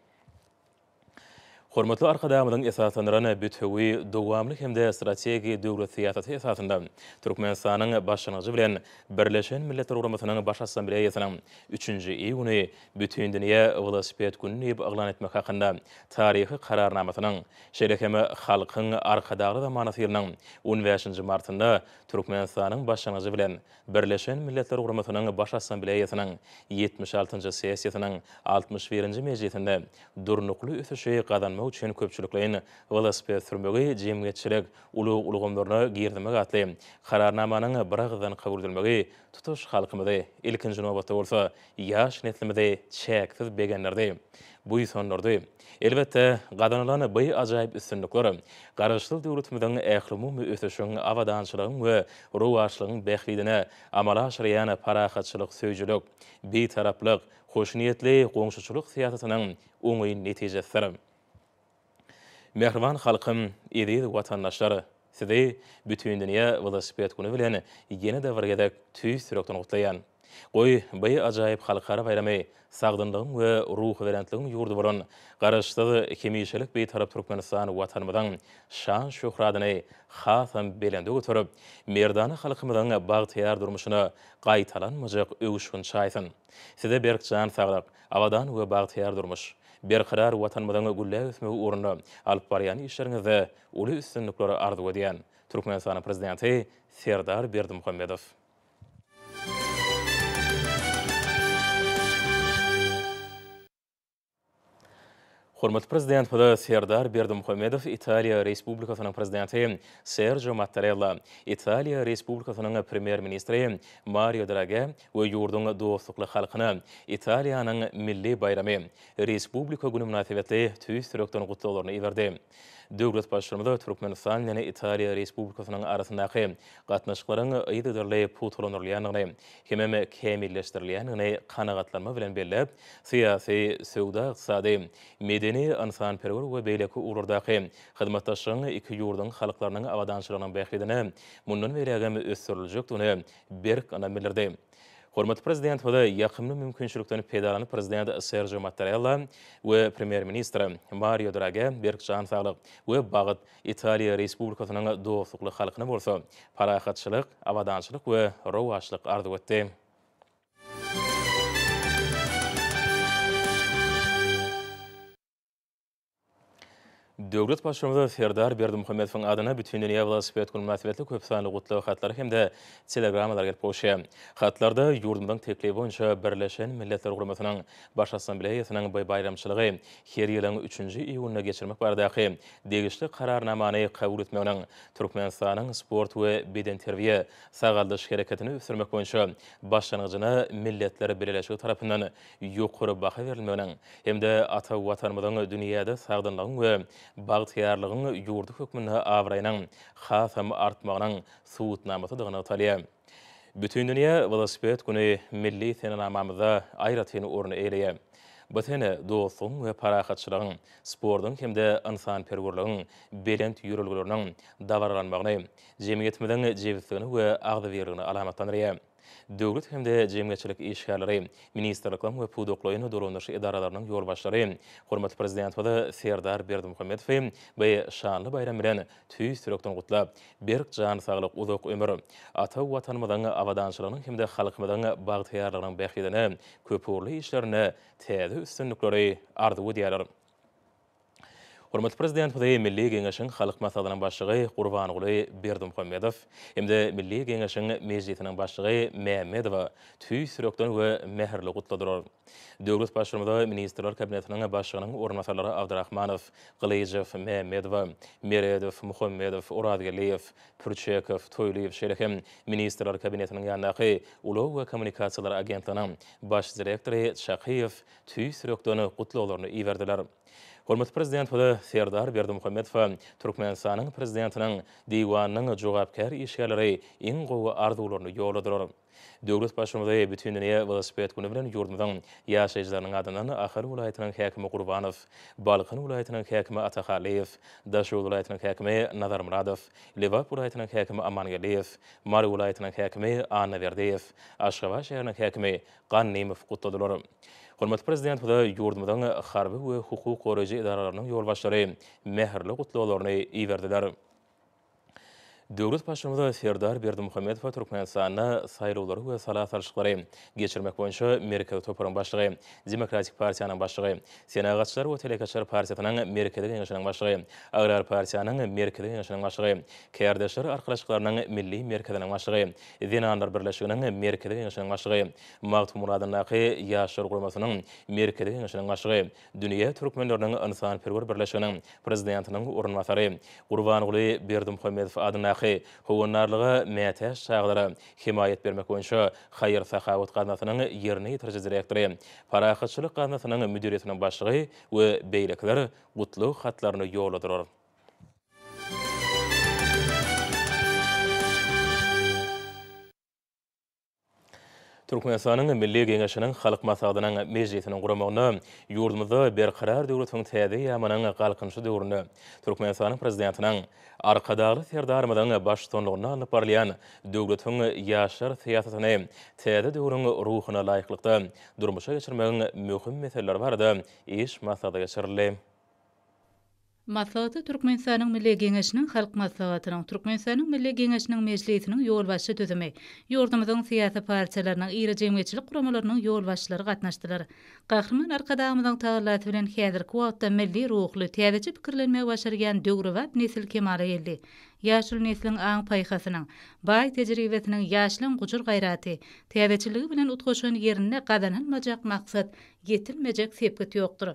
Hormatly Arkadagymyzyň esaslandyran bütewi, dowamly hem-de strategik döwlet syýasaty esasynda Türkmenistanyň başlangyjy bilen Birleşen Milletler Guramasynyň Baş Assambleýasynyň üçünji iýuny Bütindünýä welosiped güni diýip yglan etmek hakynda taryhy Kararnamasynyň, şeýle hem Halkyň Arkadagly zamanasy ýylynyň on bäşinji martynda Türkmenistanyň başlangyjy bilen Birleşen Milletler Guramasynyň Baş Assambleýasynyň ýetmiş altynjy sessiýasynyň altmyş birinji mejlisinde durnukly ösüşi gazanmak üçin köpçülikleýin welosiped sürmegi jemgyýetçilik ulag ulgamlaryna girizmek atly Kararnamanyň biragyzdan kabul edilmegi tutuş halkymyzy, ilkinji nobatda bolsa, ýaş neslimizi çäksiz begendirdi, buýsandyrdy. Elbetde, gazanylan by ajaýyp üstünlikler Garaşsyz döwletimiziň ählumumy ösüşiň, abadançylygyň we rowaçlygyň bähbidine amala aşyrýan parahatçylyk söýüjilik, bitaraplyk, hoşniýetli goňşuçylyk syýasatynyň oňyn netijesidir. Mähriban halkym, eziz watandaşlar! Sizi Bütindünýä welosiped güni bilen ýene-de bir gezek tüýs ýürekden gutlaýan. Goý, by ajaýyp halkara baýramy sagdynlygyň we ruhubelentligiň ýurdy bolan Garaşsyz, hemişelik Bitarap Türkmenistan Watanymyzyň şan-şöhratyny hasam belende göterip, merdana halkymyzyň bagtyýar durmuşyna gaýtalanmajak öwüşgin çaýsyn! Size berk jan saglyk, Abadan we bagtyýar durmuş, berkarar Watanymyzyň gülläp ösmegi ugrunda alyp barýan işleriňizde uly üstünlikleri arzuw edýän, Türkmenistanyň Prezidenti Serdar Berdimuhamedow. Hormatly Prezidentimiz Serdar Berdimuhamedow Italiýa Respublikasynyň Prezidenti Serjo Mattarella, Italiýa Respublikasynyň Premýer-ministri Mario Drage we ýurduň dostlukly halkyna Italiýanyň milli baýramy, Respublika güni mynasybetli tüýs ýürekden gutlaglaryny iberdi. Döwlet Baştutanymy Türkmenistan bilen Italiýa Respublikasynyň arasyndaky gatnaşyklaryň yzygiderli pugtalandyrylýandygyny, hemem kämilleşdirilýändigini kanagatlanma bilen belläp, syýasy, söwda-ykdysady, medeni, ynsanperwer we beýleki ugurlardaky hyzmatdaşlygyň iki ýurduň halklarynyň abadançylygynyň bähbidine mundan beýlägem ösdüriljekdigine berk ynam bildirdi. Hormatly Prezidentimize ýakymly mümkinçilikden peýdalanyp Prezident Serjio Mattarella we Premýer-ministr Mario Dragä berk jan saglyk we bagt, Italiýa Respublikasynyň dostlukly halkyna bolsa parahatçylyk, abadançylyk we rowaçlyk arzuw etdi. Döwlet Baştutanyna Serdar Berdimuhamedowyň adyna Bütindünýä welosiped güni mynasybetli köp sanly gutlag hatlary hem-de telegrammalar gelip gowuşýar. Hatlarda ýurdumyzyň teklibi boýunça Birleşen Milletler Guramasynyň Baş Assambleýasynyň bu baýramçylygy her ýylyň üçünji iýunynda geçirmek baradaky degişli Kararnamany kabul etmeginiň Türkmenistanyň sport we bedenterbiýe, sagaldyş hereketini ösdürmek boýunça başlangyjyna Milletler Bileleşigi tarapyndan ýokary baha berilmeginiň hem-de ata Watanymyzyň dünýäde sagdynlygyň we bagtyýarlygyň ýurdy hökmünde abraýynyň hasam artmagynyň subutnamasydygy nygtalýar. Bütindünýä welosiped güni milli senenamamyzda aýratyn orun eýeleýär. Bu sene dostlugyň we parahatçylygyň, sportuň hem-de ynsanperwerligiň belent ýörelgeleriniň dabaralanmagyny, jemgyýetimiziň jebisligini we agzybirligini alamatlandyrýar. Döwlet hem-de jemgyýetçilik işgärleri, ministrlikleriň we pudaklaýyn dolandyryş edaralarynyň ýolbaşçylary hormatly Prezidentimiz Serdar Berdimuhamedowy bu şanly baýram bilen Tüýs ýürekden gutlap, berk jan saglyk, uzak ömür! Ata Watanymyzyň abadançylygynyň hem-de halkymyzyň bagtyýarlygynyň bähbidine, köpugurly işlerinde täze üstünlikleri arzuw edýäler. Hormatly Prezidentimizi Milli Geňeşiň Halk Maslahatynyň Başlygy Gurbanguly Berdimuhamedow hem-de Milli Geňeşiň Mejlisiniň Başlygy Mämmedowa tüýs ýürekden we mähirli gutladylar. Döwlet Baştutanyma Ministrler Kabinetiniň Başlygynyň orunbasarlary Abdrahmanow, Gylyjow, Mämmedowa, Meredow, Muhammedow, Orazgeldiýew, Pürçekow, Toýlyýew şeýle hem Ministrler Kabinetiniň ýanyndaky Ulag we kommunikasiýalar agentliginiň Baş direktory Çakyýew tüýs ýürekden gutlaglaryny iberdiler. Hormatly Prezidentimiz Serdar Berdimuhamedowa Türkmenistanyň Prezidentiniň Diwanynyň jogapkär işgärleri iň gowy arzuwlaryny ýolladylar. Döwlet Baştutany Bütindünýä welosiped güni bilen ýurdumyzyň ýaşaýjylarynyň adyndan Ahal welaýatynyň häkimi Gurbanow, Balkan welaýatynyň häkimi Atahallyýew, Daşoguz welaýatynyň häkimi Nazarmyradow, Lebap welaýatynyň häkimi Amangeldiýew, Mary welaýatynyň häkimi Annaberdiýew, Aşgabat şäheriniň häkimi Gannymow gutladylar. Hormatly Prezidentimize ýurdumyzyň harby we hukuk goraýjy edaralarynyň ýolbaşçylary mähirli gutlaglaryny iberdiler. Döwlet Baştutanymy Serdar Berdimuhamedowa Türkmenistanda saýlawlary we sala salşyklary geçirmek boýunça Merkezi toparyň başlygy, Demokratik partiýanyň başlygy, Senagatçylar we telekeçiler partiýasynyň Merkezi Geňeşiniň başlygy, Agrar partiýanyň Merkezi Geňeşiniň başlygy, Kärdeşler arkalaşyklarynyň Milli merkeziniň başlygy, Zenanlar birleşiginiň Merkezi Geňeşiniň başlygy, Magtymguradyndaky Ýaşlar guramasynyň Merkezi Geňeşiniň başlygy, Dünýä türkmenleriniň ynsanperwer birleşiginiň prezidentiniň orunbasary Gurbanguly Berdimuhamedow adyndaky Howandarlyga mätäç çagalara hemaýat bermek boýunça haýyr-sahawat gaznasynyň ýerine ýetiriji direktory, Parahatçylyk gaznasynyň müdiriýetiniň başlygy we beýlekiler gutlag hatlaryny ýolladylar. Türkmenistanyň Milli Geňeşiniň Halk Maslahatynyň mejlisiniň guramagynda ýurdumyzda Berkarar döwletiň täze eýýamynyň Galkynyşy döwründe Türkmenistanyň Prezidentiniň, Arkadagly Serdarymyzyň baştutanlygynda alnyp barylýan döwletiň ýaşlar syýasatyny täze döwrüň ruhuna laýyklykda durmuşa geçirmegiň möhüm meseleleri barada iş maslahaty geçirildi. Maslahata Türkmenistanyň Milli Geňeşiniň Halk Maslahatynyň, Türkmenistanyň Milli Geňeşiniň Mejlisiniň ýolbaşçy düzümi, ýurdumyzyň syýasy partiýalarynyň, iri jemgyýetçilik guramalarynyň ýolbaşçylary gatnaşdylar. Gahryman Arkadagymyzyň tagallasy bilen häzirki wagtda milli ruhly, täzeçe pikirlenmegi başarýan döwrebap nesil kemala geldi. Ýaşuly nesliň aň-paýhasynyň, baý tejribesiniň, ýaşlaň gujur-gaýraty, täzeçilligi bilen utgaşan ýerinde gazanylmajak maksat Ýetilmejek sepgit ýokdur.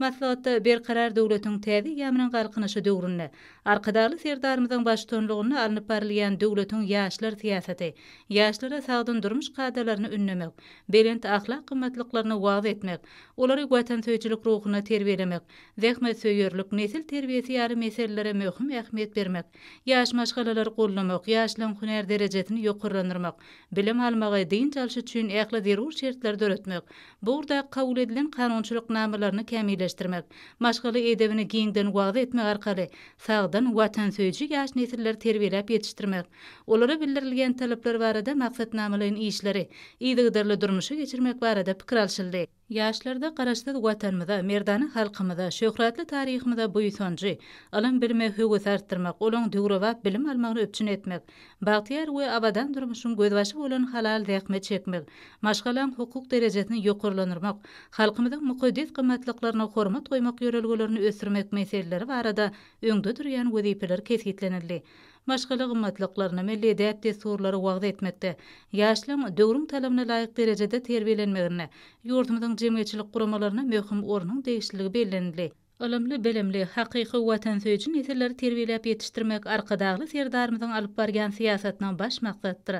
Maslahatda Berkarar döwletiň täze eýýamynyň Galkynyşy döwründe Arkadagly Serdarymyzyň baştutanlygynda alnyp barylýan döwletiň ýaşlar syýasaty, ýaşlara sagdyn durmuş kadalaryny ündemek, belent ahlak gymmatlyklaryny wagyz etmek, olary watansöýüjilik ruhunda terbiýelemek, zähmetsöýerlik, nesil terbiýesi ýaly meselelere möhüm ähmiýet bermek, Ýaş maşgalalary goldamak, ýaşlaryň hünär derejesini ýokarlandyrmak, bilim almagy, dynç alşy üçin ähli zerur şertleri döretmek, bu ugurdaky kabul edilen kanunçylyk namalaryny kämilleşdirmek, maşgala edebini giňden wagyz etmek arkaly sagdyn, watansöýüji ýaş nesilleri terbiýeläp ýetişdirmek, olara bildirilýän talaplar barada maksatnamalaýyn işleri yzygiderli durmuşa geçirmek barada pikir alşyldy. Ýaşlarda Garaşsyz Watanymyza, merdana halkymyza, şöhratly taryhymyza buýsanjy, ylym-bilime höwesi artdyrmak, olaň döwrebap bilim almagyny üpjün etmek, bagtyýar we abadan durmuşyň gözbaşy bolan halal zähmet çekmek, maşgalaň hukuk derejesini ýokarlandyrmak, halkymyzyň mukaddes gymmatlyklaryna hormat goýmak ýörelgelerini ösdürmek meseleleri barada öňde durýan wezipeler kesgitlenildi. maşgala gymmatlyklaryny, milli däp-dessurlary wagyz etmekde, ýaşlaryň döwrüň talabyna laýyk derejede terbiýelenmeginde ýurdumyzyň jemgyýetçilik guramalaryna möhüm ornuň degişliligi bellenildi. Ylymly-bilimli, hakyky watansöýüji nesilleri terbiýeläp ýetişdirmek Arkadagly Serdarymyzyň alyp barýan syýasatynyň baş maksadydyr.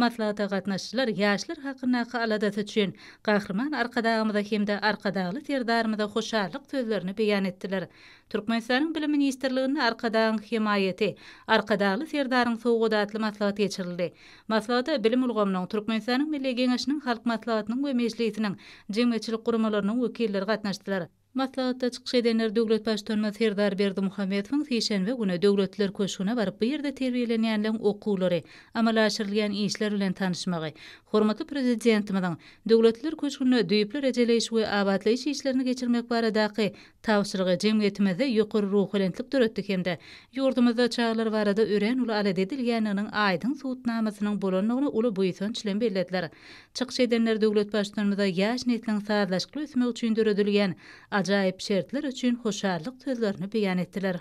Maslahata gatnaşyjylar ýaşlar hakyndaky aladasy üçin Gahryman Arkadagymyza hem-de Arkadagly Serdarymyza hoşallyk sözlerini beýan etdiler. Türkmenistanyň Bilim ministrliginde Arkadagyň hemaýaty, Arkadagly Serdaryň sowgady atly maslahat geçirildi. Maslahata bilim ulgamynyň, Türkmenistanyň Milli Geňeşiniň Halk Maslahatynyň we Mejlisiniň, jemgyýetçilik guramalarynyň wekilleri gatnaşdylar. Maslahatda çykyş edenler döwlet Baştutanymyz Serdar Berdimuhamedowyň sişenbe güni Döwletler köşgüne baryp bu ýerde terbiýelenýänleň okuwlary, amala aşyrylýan işler bilen tanyşmagy, hormatly Prezidentimiziň Döwletler köşgünde düýpli rejeleýiş we abatlaýyş işlerini geçirmek baradaky Tabşyrygy jemgyýetimizde ýokary ruhubelentlik döretdi hem-de ýurdumyzda çagalar barada örän uly alada edilýändiginiň aýdyň subutnamasynyň bolandygyny uly buýsanç bilen bellediler. Çykyş edenler döwlet Baştutanymyza ýaş nesliň sazlaşykly ösmegi üçin döredilýän ajaýyp şertler üçin hoşallyk sözlerini beýan etdiler.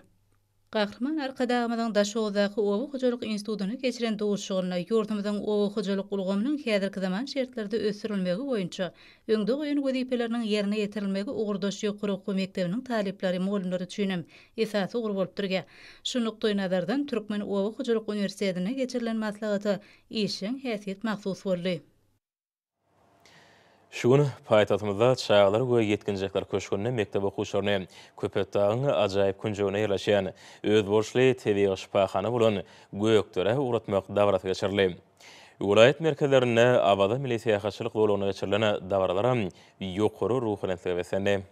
Gahryman Arkadagymyzyň Daşoguzdaky Oba hojalyk institutynda geçiren duşuşygynda ýurdumyzyň oba hojalyk ulgamynyň häzirki zaman şertlerde ösdürilmegi boýunça öňde goýan wezipeleriniň ýerine ýetirilmegi ugurdaş ýokary okuw mekdebiniň talyplary, mugallymlary üçin hem esasy ugur bolup durýar. Şu nukdaýnazardan Türkmen oba hojalyk uniwersitetinde geçirilen maslahata işjeň häsiýet mahsus boldy. Şu gün paýtagtymyzda Çagalar we ýetginjekler köşgünde mekdep okuwçylaryny Köpetdagyň ajaýyp künjeginde ýerleşýän özboluşly tebigy şypahana bolan Gökderä ugratmak dabarasy geçirildi. Welaýat merkezlerinde Awaza milli syýahatçylyk zolagynda geçirilen dabaralaram ýokary ruhubelentlige beslendi.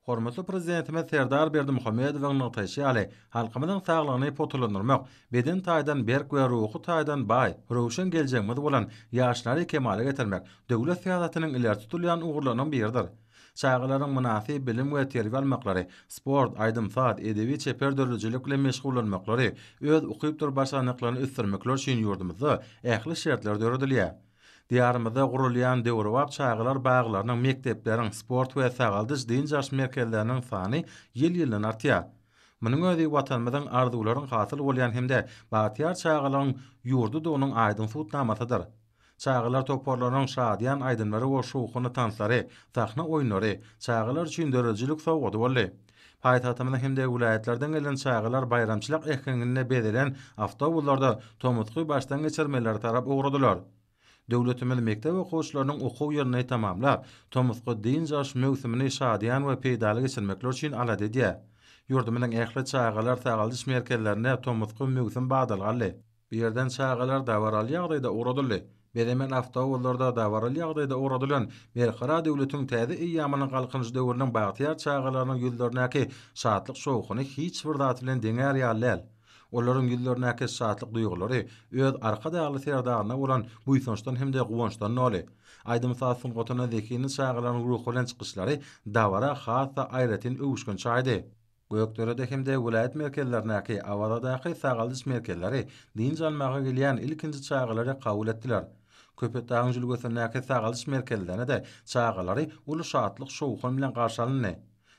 Hormatly Prezidentimiz Serdar Berdimuhamedowyň nygtaýşy ýaly, halkymyzyň saglygyny pugtalandyrmak, beden taýdan berk we ruhy taýdan baý, röwşen geljegimiz bolan ýaşlary kemala getirmek döwlet syýasatynyň ileri tutulýan ugurlarynyň biridir. Çagalaryň mynasyp bilim we terbiýe almaklary, sport, aýdym-saz, edebi-çeper döredijilik bilen meşgullanmaklary, öz ukypdyr başarnyklaryny ösdürmekleri üçin ýurdumyzda ähli şertler döredilýär. Diýarymyzda gurulýan döwrebap çagalar baglarynyň, mekdepleriň, sport we sagaldyş, dynç alyş merkezleriniň sany ýyl-ýyldan artýar. Munuň özi Watanymyzyň arzuwlaryň hasyl bolýan hem-de bagtyýar çagalygyň ýurdudygynyň aýdyň subutnamasydyr. Çagalar toparlarynyň şadyýan aýdymlary we şowhunly tanslary, sahna oýunlary çagalar üçin döredijilik sowgady boldy. Paýtagtymyzyň hem-de welaýatlardan gelen çagalar baýramçylyk äheňinde bezelen awtobuslarda tomusky başdan geçirmelere tarap ugradylar. Döwletimiz mekdep okuwçylarynyň okuw ýylyny tamamlap, tomusky dynç alyş möwsümini şadyýan we peýdaly geçirmekleri üçin alada edýär. Ýurdumyzyň ähli çagalar sagaldyş merkezlerinde tomusky möwsüm badalga aldy. Bu ýerden çagalar dabaraly ýagdaýda ugradyldy. Bezemen awtobuslarda dabaraly ýagdaýda ugradylan Berkarar döwletiň täze eýýamynyň Galkynyş döwrüniň bagtyýar çagalarynyň ýüzlerindäki şatlyk-şowhuny hiç bir zat bilen deňär ýaly däl. Olaryň ýüzlerindäki şatlyk duýgulary öz Arkadagly Serdaryna bolan buýsançdan hem-de guwançdan doly. Aýdym-saz sungatyna zehinli çagalaryň ruhubelent çykyşlary dabara has-da aýratyn öwüşgin çaýdy. Gökderede hem-de welaýat merkezlerindäki Awazadaky sagaldyş merkezleri dynç almaga gelýän ilkinji çagalary kabul etdiler. Köpetdagyň jülgesindäki sagaldyş merkezlerinde-de çagalary uly şatlyk-şowhun bilen garşy alyndy.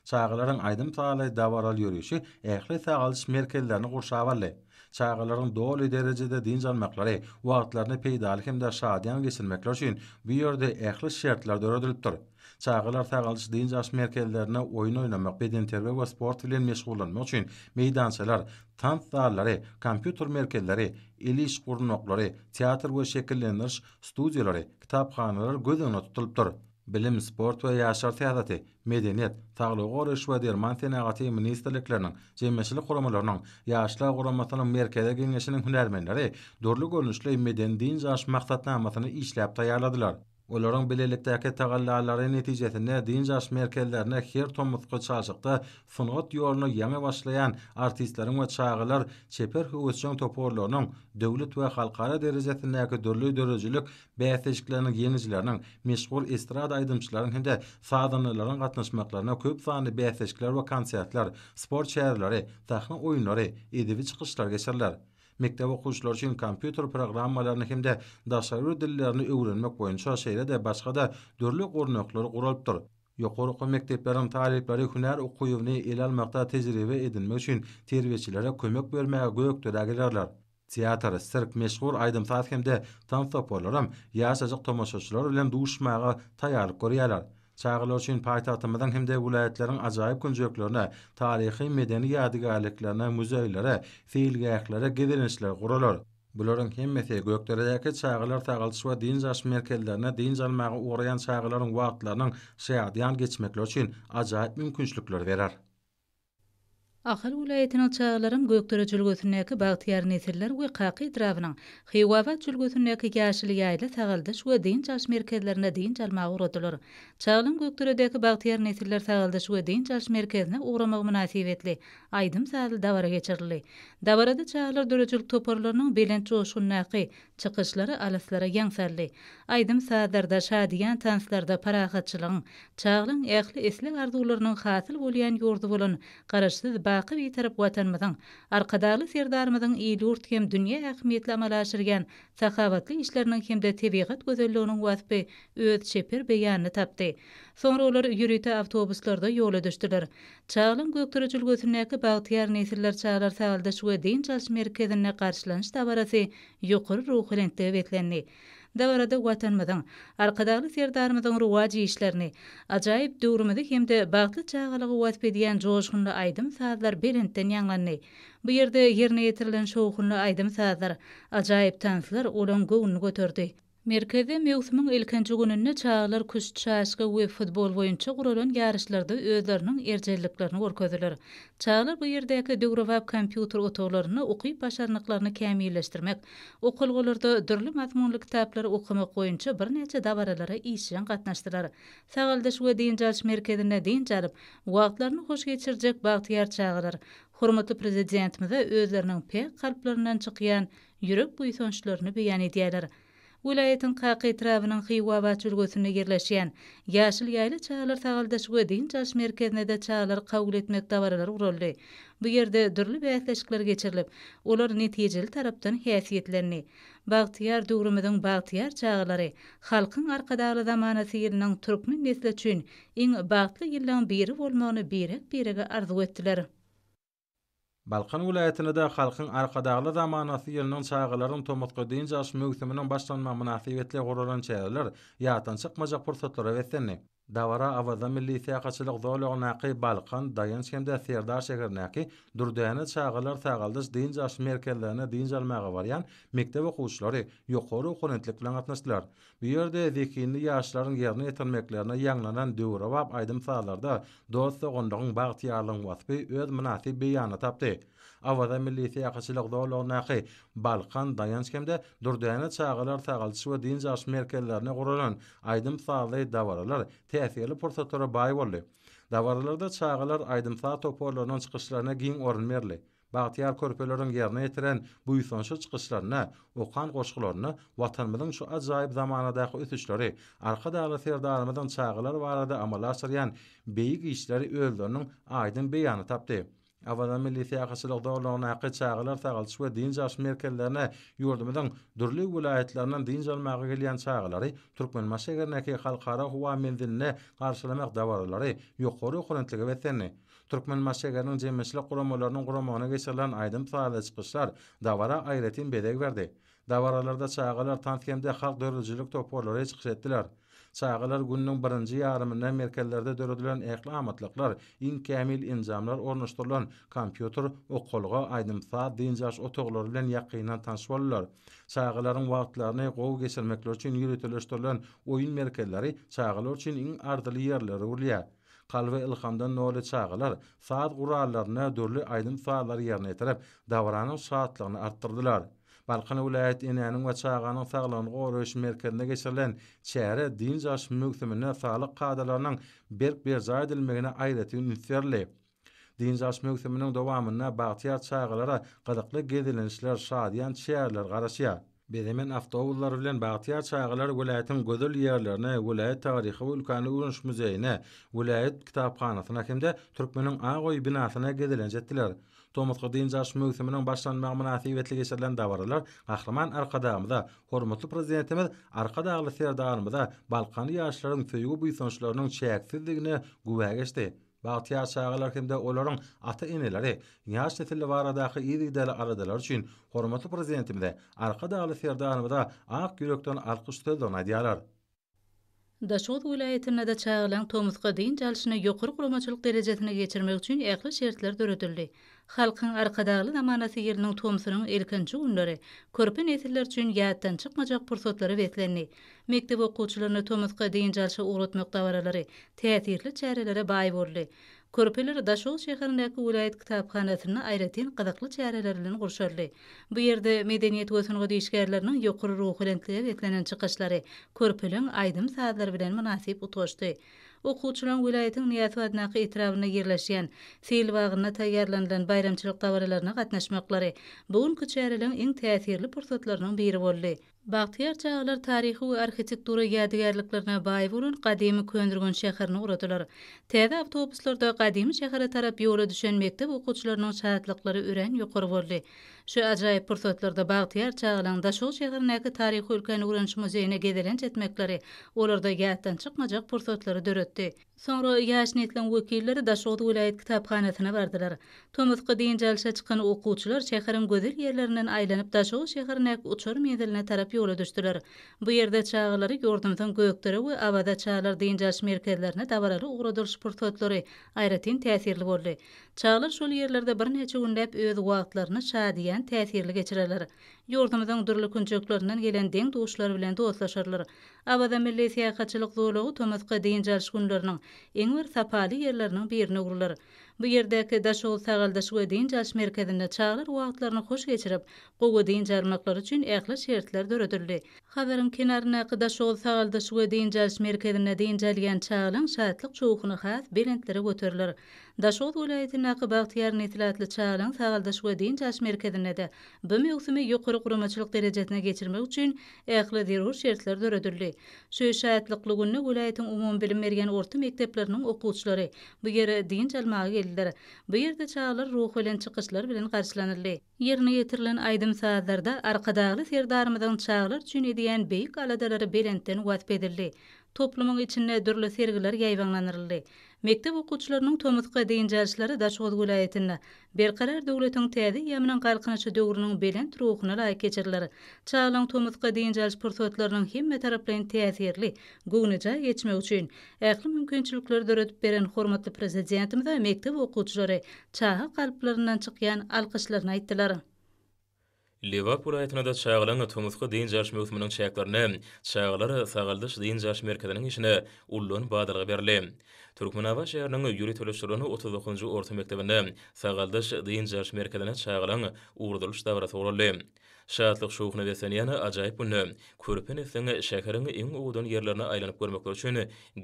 Çagalaryň aýdym-sazly, dabaraly ýörişi ähli sagaldyş merkezlerini gurşap aldy. Çagalaryň doly derejede dynç almaklary, wagtlaryny peýdaly hem-de şadyýan geçirmekleri üçin bu ýerde ähli şertler döredilipdir. Çagalar sagaldyş-dynç alyş merkezlerinde oýun oýnamak, bedenterbiýe we sport bilen meşgullanmak üçin meýdançalar, tans zallary, kompýuter merkezleri, el iş gurnaklary, teatr we şekillendiriş studiýalary, kitaphanalar göz öňünde tutulypdyr. Bilim, sport we ýaşlar syýasaty, medeniýet, saglygy goraýyş we derman senagaty ministrlikleriniň, jemgyýetçilik guramalarynyň, Ýaşlar guramasynyň Merkezi Geňeşiniň hünärmenleri dürli görnüşli medeni-dynç alyş maksatnamasyny işläp taýýarladylar. Olaryň bilelikdäki tagallalary netijesinde dynç alyş merkezlerine her tomusky çalşykda sungat ýoluna ýaňy başlaýan artistleriň we çagalar çeper höwesjeň toparlarynyň döwlet we halkara derejesindäki dürli döredijilik bäsleşikleriniň ýeňijileriniň, meşhur estrada aýdymçylaryň hem-de sazandalaryň gatnaşmaklaryna köp sanly bäsleşikler we konsertler, sport çäreleri, sahna oýunlary, edebi çykyşlar geçiriler. mekdep okuwçylary üçin kompýuter programmalaryny hem-de daşary bir dillerini öwrenmek boýunça şeýle-de başga-da dürli gurnaklary guralypdyr. Ýokary okuw mekdepleriň talyplary hünär okuwyny ele almakda tejribe edinmek üçin terbiýeçilere kömek bermäge Gökderä gelerler. Teatr, sirk, meşhur aýdym-saz hem-de tans toparlaram ýaşajyk tomaşaçylar bilen duşuşmaga taýýarlyk görýärler. Çagalar üçin paýtagtymyzyň hem-de welaýatlaryň ajaýyp künjeklerine, taryhy-medeni ýadygärliklerine, muzeýlere, seýilgählere gezelençler guralar. Bularyň hemmesi Gökderedäki çagalar sagaldyş we dynç alyş merkezlerine dynç almaga ugraýan çagalaryň wagtlarynyň şadyýan geçmekleri üçin ajaýyp mümkinçilikleri berer. Ahal welaýatynyň çagalaram Gökdere jülgesindäki Bagtyýar nesiller we Kaka etrabynyň Hiwabat jülgesindäki Ýaşyl ýaýla sagaldyş we dynç alyş merkezlerine dynç almaga ugradylar. Çagalam Gökderedäki Bagtyýar nesiller sagaldyş we dynç alyş merkezine ugramagy mynasybetli aýdym-sazly dabara geçirildi. Dabarada çagalar döredijilik toparlarynyň belent joşgundaky Çykyşlary alyslara ýaňsarly. Aýdym-sazlarda, şadyýan tanslarda parahatçylygyň, çaglygyň, ähli isleg-arzuwlarynyň hasyl bolýan ýurdy bolan Garaşsyz, baky Bitarap Watanymyzyň, Arkadagly Serdarymyzyň il-ýurt hem dünýä ähmiýetli amala aşyrýan sahawatly işleriniň hem-de tebigat gözelliginiň waspy öz çeper beýanyny tapdy. Soňra olar ýörite awtobuslarda ýola düşdüler. Çaglyň Gökdepe jülgesindäki Bagtyýar nesiller çagalar sagaldyş we dynç alyş merkezinde garşylanyş dabarasy ýokary ruhubelentlige beslendi. Dabarada Watanymyzyň, Arkadagly Serdarymyzyň rowaç işlerini, ajaýyp döwrümizi hem-de bagtly çagalygy wasp edýän joşgunly aýdym-sazlar belentden ýaňlandy. Bu ýerde ýerine ýetirilen şowhunly aýdym-sazlar, ajaýyp tanslar olaryň göwnüni göterdi. Merkezde möwsümiň ilkinji gününde çagalar küşt, şaşka we futbol boýunça guralan ýaryşlarda özleriniň erjelliklerini görkezdiler. Çagalar bu ýerdäki döwrebap kompýuter otaglarynda ukyp-başarnyklaryny kämilleşdirmek, okalgalarda dürli mazmunly kitaplary okamak boýunça birnäçe dabaralara işjeň gatnaşdylar. Sagaldyş we dynç alyş merkezinde dynç alyp, wagtlaryny hoş geçirjek bagtyýar çagalar hormatly Prezidentimize özleriniň päk kalplaryndan çykýan ýürek buýsançlaryny beýan edýärler. Welaýatyň Kaka etrabynyň Hywabat ülgesinde ýerleşýän Ýaşyl ýaýla çagalar sagaldyş we dynç alyş merkezinde-de çagalary kabul etmek dabaralary guraldy. Bu ýerde dürli bäsleşikler geçirilip, olar netijeli tarapdan häsiýetlendi. Bagtyýar döwrümiziň bagtyýar çagalary, Halkyň Arkadagly zamanasy ýylynyň türkmen nesli üçin iň bagtly ýyllaryň biri bolmagyny birek-birege arzuw etdiler. Balkan welaýatynda-da Halkyň Arkadagly zamanasy ýylynyň çagalaryň tomusky dynç alyş möwsüminiň başlanmagy mynasybetli guralan çäreler ýatdan çykmajak pursatlara beslendi. Dabara Awaza milli syýahatçylyk zolagyndaky Balkan, Daýanç hem-de Serdar şäherindäki Dürdäne çagalar sagaldyş dynç alyş merkezlerine dynç almaga barýan mekdep okuwçylary ýokary okonentlik bilen gatnaşdylar. Bu ýerde zehinli ýaşlaryň ýerine ýetirmeklerine ýaňlanan döwrebap aýdym-sazlarda dost-doganlygyň, bagtyýarlygyň waspy öz mynasyp beýanyny tapdy. Awaza milli syýahatçylyk zolagyndaky Balkan, Daýanç hem-de Dürdäne çagalar sagaldyş we dynç alyş merkezlerinde guralan aýdym-sazly dabaralar täsirli pursatlara baý boldy. Dabaralarda çagalar aýdym-saz toparlarynyň çykyşlaryna giň orun berildi. Bagtyýar körpeleriň ýerine ýetiren buýsançly çykyşlarynda, okan goşgularynda Watanymyzyň şu ajaýyp zamanadaky ösüşleri, Arkadagly Serdarymyzyň çagalar barada amala aşyrýan beýik işleri özleriniň aýdyň beýanyny tapdy. Awaza milli syýahatçylyk zolagyndaky çagalar sagaldyş we dynç alyş merkezlerine ýurdumyzyň dürli welaýatlaryndan dynç almaga gelýän çagalary Türkmenbaşy şäherindäki Halkara howa menziline garşylamak dabaralary ýokary okurentlige beslendi. Türkmenbaşy şäheriniň jemgyýetçilik guramalarynyň guramagyna geçirilen aýdym-sazly çykyşlar dabara aýratyn bezeg berdi. Dabaralarda çagalar tans hem-de halk döredijilik toparlary çykyş etdiler. Çagalar gününiň birinji ýarymynda merkezlerde döredilen ähli amatlyklar, iň kämil enjamlar ornaşdyrylan kompýuter, okalga, aýdym-saz, dynç alyş otaglary bilen ýakyndan tanyş boldular. Çagalaryň wagtlaryny gowy geçirmekleri üçin ýöriteleşdirilen oýun merkezleri çagalar üçin iň arzyly ýerlere öwrülýär. Kalby ylhamdan doly çagalar saz gurallarynda dürli aýdym-sazlary ýerine ýetirip, dabaranyň şatlygyny artdyrdylar. Balkan welaýat Enäniň we çaganyň saglygyny goraýyş merkezinde geçirilen çäre dynç alyş möwsüminde saglyk kadalarynyň berk berjaý edilmegine aýratyn üns berildi. Dynç alyş möwsüminiň dowamynda bagtyýar çagalara gyzykly gezelençler, şadyýan çäreler garaşýar. Bezemen awtobuslar bilen bagtyýar çagalar welaýatyň gözel ýerlerine, welaýat taryhy we ülkäni öwreniş muzeýine, welaýat kitaphanasyna hem-de Türkmeniň ak öýi binasyna gezelenç etdiler. Tomusky dynç alyş möwsüminiň başlanmagy mynasybetli geçirilen dabaralar Gahryman Arkadagymyza, hormatly Prezidentimiz Arkadagly Serdarymyza balkanly ýaşlaryň söýgi-buýsançlarynyň çäksizdigine güwä geçdi. Bagtyýar çagalar hem-de olaryň ata-eneleri ýaş nesil baradaky yzygiderli aladalary üçin hormatly Prezidentimize, Arkadagly Serdarymyza ak ýürekden alkyş sözlerini aýdýarlar. Daşoguz welaýatynda-da çagalaryň tomusky dynç alşyny ýokary guramaçylyk derejesinde geçirmek üçin ähli şertler döredildi. Halkyň Arkadagly zamanasy ýylynyň tomsunyň ilkinji günleri körpe nesiller üçin ýatdan çykmajak pursatlara beslendi. Mekdep okuwçylaryny tomusky dynç alşa ugratmak dabaralary täsirli çärelere baý boldy. Körpeler Daşoguz şäherindäki welaýat kitaphanasynda aýratyn gyzykly çäreler bilen gurşaldy. Bu ýerde medeniýet we sungat işgärleriniň ýokary ruhubelentlige beslenen çykyşlary körpeleň aýdym-sazlary bilen mynasyp utgaşdy. Okuwçylaryň welaýatyň Nyýazow adyndaky etrabynda ýerleşýän Sil bagynda taýýarlanylan baýramçylyk dabaralaryna gatnaşmaklary bu günki çäreleň iň täsirli pursatlarynyň biri boldy. Bagtyýar çagalar taryhy we arhitektura ýadygärliklerine baý bolan gadymy Köneürgenç şäherini ugradylar. Täze awtobuslarda gadymy şähere tarap ýola düşen mekdep okuwçylarynyň şatlyklary örän ýokary boldy. Şu ajaýyp pursatlarda bagtyýar çagalaryň Daşoguz şäherindäki Taryhy-ülkäni öwreniş muzeýine gezelenç etmekleri olarda ýatdan çykmajak pursatlary döretdi. Soňra ýaş nesliň wekilleri Daşoguz welaýat kitaphanasyna bardylar. Tomusky dynç alşa çykan okuwçylar şäheriň gözel ýerlerinden aýlanyp Daşoguz şäherindäki uçar menziline tarap ýola düşdüler. Bu ýerde çagalary ýurdumyzyň Gökdere we Awaza çagalar dynç alyş merkezlerine dabaraly ugradylyş pursatlary aýratyn täsirli boldy. Çagalar şol ýerlerde birnäçe günläp öz wagtlaryny şadyýan, täsirli geçirerler. Ýurdumyzyň dürli künjeklerinden gelen deň-duşlar bilen dostlaşarlar. Awaza milli syýahatçylyk zolagy tomusky dynç alyş günleriniň iň bir sapaly ýerleriniň birine öwrüler. Bu ýerdäki Daşoguz sagaldyş we dynç alyş merkezinde çagalar wagtlaryny hoş geçirip, gowy dynç almaklary üçin ähli şertler döredildi. Hazaryň kenaryndaky Daşoguz sagaldyş we dynç alyş merkezinde dynç alýan çagalaň şatlyk şowhuny has belentlere göteriler. Daşoguz welaýatyndaky Bagtyýar nesil atly çagalar sagaldyş we dynç alyş merkezinde-de bu möwsümi ýokary guramaçylyk derejesine geçirmek üçin ähli zerur şertler döredildi. Şu şatlykly günde welaýatyň umumybilim berýän orta mekdepleriniň okuwçylary bu ýere dynç almaga geldiler. Bu ýerde çagalar ruhubelent çykyşlar bilen garşylanyldy. Ýerine ýetirilen aýdym-sazlarda Arkadagly Serdarymyzyň çagalar üçin edýän beýik aladalary belentden wasp edildi. Toplumyň içinde dürli sergiler ýaýbaňlandyryldy. Mekdep okuwçylarynyň tomusky dynç alşlary Daşoguz welaýatynda Berkarar döwletiň täze eýýamynyň Galkynyşy döwrüniň belent ruhuna laýyk geçiriler. Çagalaryň tomusky dynç alyş pursatlarynyň hemmetaraplaýyn täsirli, göwnejaý geçmegi üçin Ähli mümkinçilikleri döredip beren hormatly Prezidentimize mekdep okuwçylary çaga kalplaryndan çykýan alkyşlaryny aýtdylar. Lebap welaýatynda-da çagalaryň tomusky dynç alyş möwsüminiň çäklerinde çagalar sagaldyş-dynç alyş merkeziniň işine ullan badalga berildi. Türkmenabat şäheriniň ýöriteleşdirilen otuz dokuzynjy orta mekdebinde sagaldyş-dynç alyş merkezine çagalaryň ugradylyş dabarasy guraldy. Şatlyk-şowhuna beslenýän ajaýyp günde, körpe nesliň şäheriň iň owadan ýerlerine aýlanyp görmekleri üçin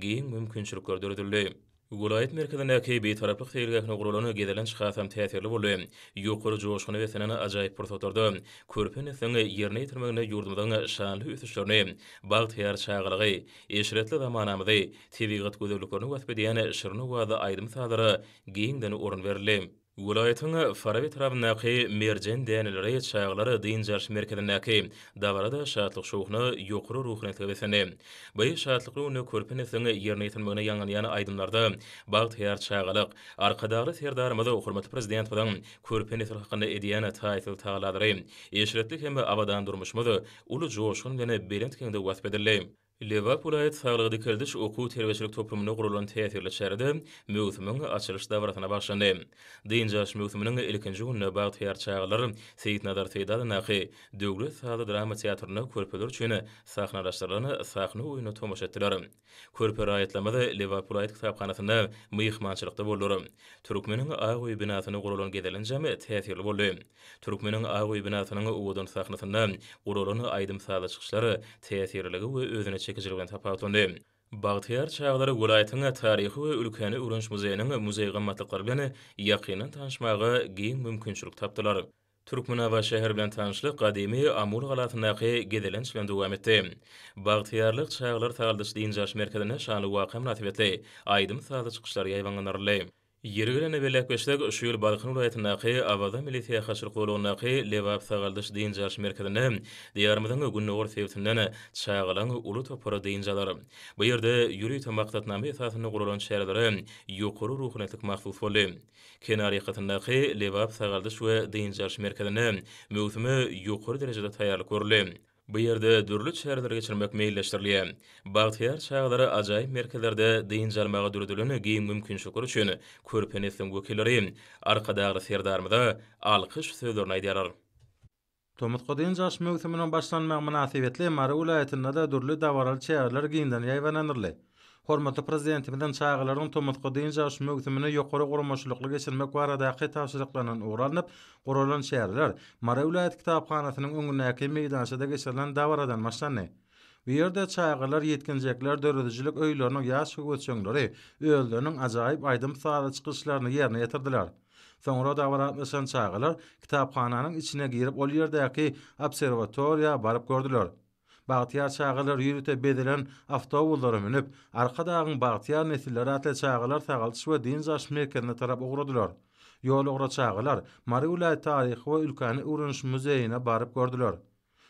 giň mümkinçilikler döredildi. Welaýat merkezindäki Bitaraplyk seýilgähine guralan gezelenç hasam täsirli boldy. Ýokary joşguna beslenen ajaýyp pursatlarda körpe nesliň ýerine ýetirmeginde ýurdumyzyň şanly ösüşlerini, bagtyýar çagalygy, eşretli zamanamyzy, tebigat gözelliklerini wasp edýän şirin owazly aýdym-sazlara giňden orun berildi. Welaýatyň Faraby etrabyndaky Merjen däneleri çagalar dynç alyş merkezindäki dabara-da şatlyk-şowhuna, ýokary ruhunetge beslendi. Bu şatlykly günde körpe nesliň ýerine ýetirmegine ýaňlanýan aýdymlarda bagtyýar çagalyk, Arkadagly Serdarymyz hormatly Prezidentimiziň körpe nesil hakynda edýän taýsyz tagallalary, eşretli hem abadan durmuşymyz uly joşgun bilen belent geňde wasp edildi. Lebap welaýat saglygy-dikeldiş okuw-terbiýeçilik toplumynda guralan täsirli çärede möwsümiň açylyş dabarasyna bagyşlandy. Dynç alyş möwsüminiň ilkinji gününde bagtyýar çagalar Seýitnazar Seýdalyndaky Döwlet sazly drama teatrynda körpeler üçin sahnalaşdyrylan sahna oýnuna tomaşa etdiler. Körpe raýatlarymyz Lebap welaýat kitaphanasynda myhmançylykda boldular. Türkmeniň ak öýi binasynda guralan gezelenjem täsirli boldy. Türkmeniň ak öý binasynyň owadan sahnasynda guralan aýdym-sazly çykyşlar täsirliligi we özüne çekijiligi bilen tapawutlandy. Bagtyýar çagalar welaýatyň Taryhy we ülkäni öwreniş muzeýiniň muzeý gymmatlyklary bilen ýakyndan tanyşmaga giň mümkinçilik tapdylar. Türkmenabat şäheri bilen tanyşlyk gadymy Amul galasyndaky gezelenç bilen dowam etdi. Bagtyýarlyk çagalar sagaldyş-dynç alyş merkezinde şanly waka mynasybetli aýdym-sazly çykyşlar ýaýbaňlandyryldy. Ýeri gelende bellekgeçsek, şu ýyl Balkan welaýatyndaky Awaza milli syýahatçylyk zolagyndaky Lebap sagaldyş dynç alyş merkezinde Diýarymyzyň gündogar sebitinden çagalaň uly topary dynç alar. Bu ýerde ýörite maksatnama esasynda guralan çärelere ýokary ruhaniýetlik mahsus boldy. Kenar ýakasyndaky Lebap sagaldyş we dynç alyş merkezinde möwsüme ýokary derejede taýýarlyk görüldi. Bu ýerde dürli çäreleri geçirmek meýilleşdirilýär. Bagtyýar çagalara ajaýyp merkezlerde dynç almaga döredilen giň mümkinçilikler üçin körpe nesliň wekilleri Arkadagly Serdarymyza alkyş sözlerini aýdýarlar. Tomusky dynç alyş möwsüminiň başlanmagy mynasybetli Mary welaýatynda-da dürli dabaraly çäreler giňden ýaýbaňlandyryldy. Hormatly Prezidentimiziň çagalaryň tomusky dynç alyş möwsümini ýokary guramaçylykly geçirmek baradaky tabşyryklaryndan ugur alnyp guralan çäreler Mary welaýat kitaphanasynyň öňündäki meýdançada geçirilen dabaradan başlandy. Bu ýerde çagalar, ýetginjekler, döredijilik öýleriniň ýaş höwesjeňleri özleriniň ajaýyp aýdym-sazly çykyşlaryny ýerine ýetirdiler. Soňra dabara gatnaşan çagalar kitaphananyň içine girip ol ýerdäki obserwatoriýa baryp gördüler. Bagtyýar çagalar ýörite bezelen awtobuslara münüp, Arkadagyň bagtyýar nesilleri atly çagalar sagaldyş we dynç alyş merkezine tarap ugradylar. Ýol ugra çagalar Mary welaýat taryhy we ülkäni öwreniş muzeýine baryp gördüler.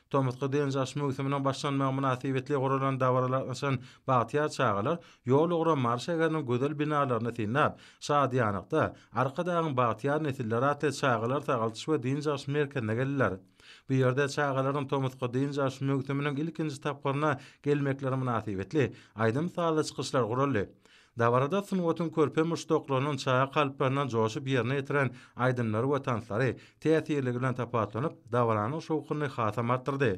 Tomusky dynç alyş möwsüminiň başlanmagy mynasybetli guralan dabara gatnaşan bagtyýar çagalar ýol ugra Mary şäheriniň gözel binalaryny synlap, şadyýanlykda Arkadagyň bagtyýar nesilleri atly çagalar sagaldyş we dynç alyş merkezine geldiler. Bu ýerde çagalaryň tomusky dynç alyş möwsüminiň ilkinji tapgyryna gelmekleri mynasybetli, aýdym-sazly çykyşlar guraldy. Dabarada sungatyň körpe muşdaklarynyň çaga kalplaryndan joşup ýerine ýetiren aýdymlary we tanslary täsirligi bilen tapawutlanyp, dabaranyň şowhunyny hasam artdyrdy.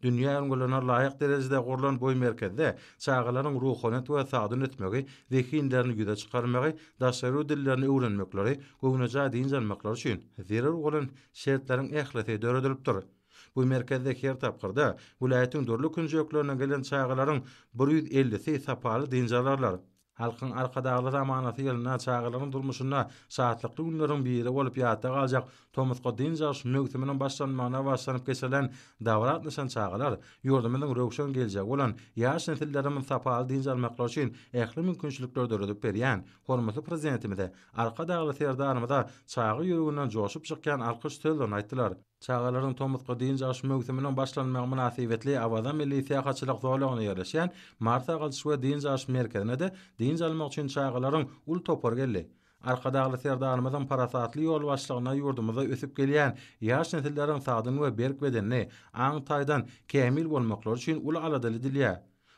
Dünýä ülňülerine laýyk derejede gurlan bu merkezde çagalaryň ruhanyýet we sagdyn ösmegi, zehinlerini ýüze çykarmagy, daşary ýurt dillerini öwrenmekleri, göwnejaý dynç almaklary üçin zerur bolan şertleriň ählisi döredilipdir. Bu merkezde her tapgyrda welaýatyň dürli künjeklerinden gelen çagalaryň bir ýüz ellisi sapaly dynç alarlar. Halkyň Arkadagly zamanasy ýylynda çagalaryň durmuşynda şatlykly günleriň biri bolup ýatda galjak tomusky dynç alyş möwsüminiň başlanmagyna bagyşlanyp geçirilen dabara gatnaşan çagalar ýurdumyzyň röwşen geljegi bolan ýaş nesillerimiz sapaly dynç almaklary üçin ähli mümkinçilikleri döredip berýän hormatly Prezidentimize Arkadagly Serdarymyza çaga ýüreginden joşup çykýan alkyş sözlerini aýtdylar. Çagalaryň tomusky dynç alyş möwsüminiň başlanmagy mynasybetli Awaza milli syýahatçylyk zolagynda ýerleşýän Mary sagaldyş we dynç alyş merkezine-de dynç almak üçin çagalaryň uly topary geldi. Arkadagly Serdarymyzyň parasatly ýolbaşçylygynda ýurdumyzda ösüp gelýän ýaş nesilleriň sagdyn we berk bedenli, aň taýdan kämil bolmaklary üçin uly aladaly edilýär.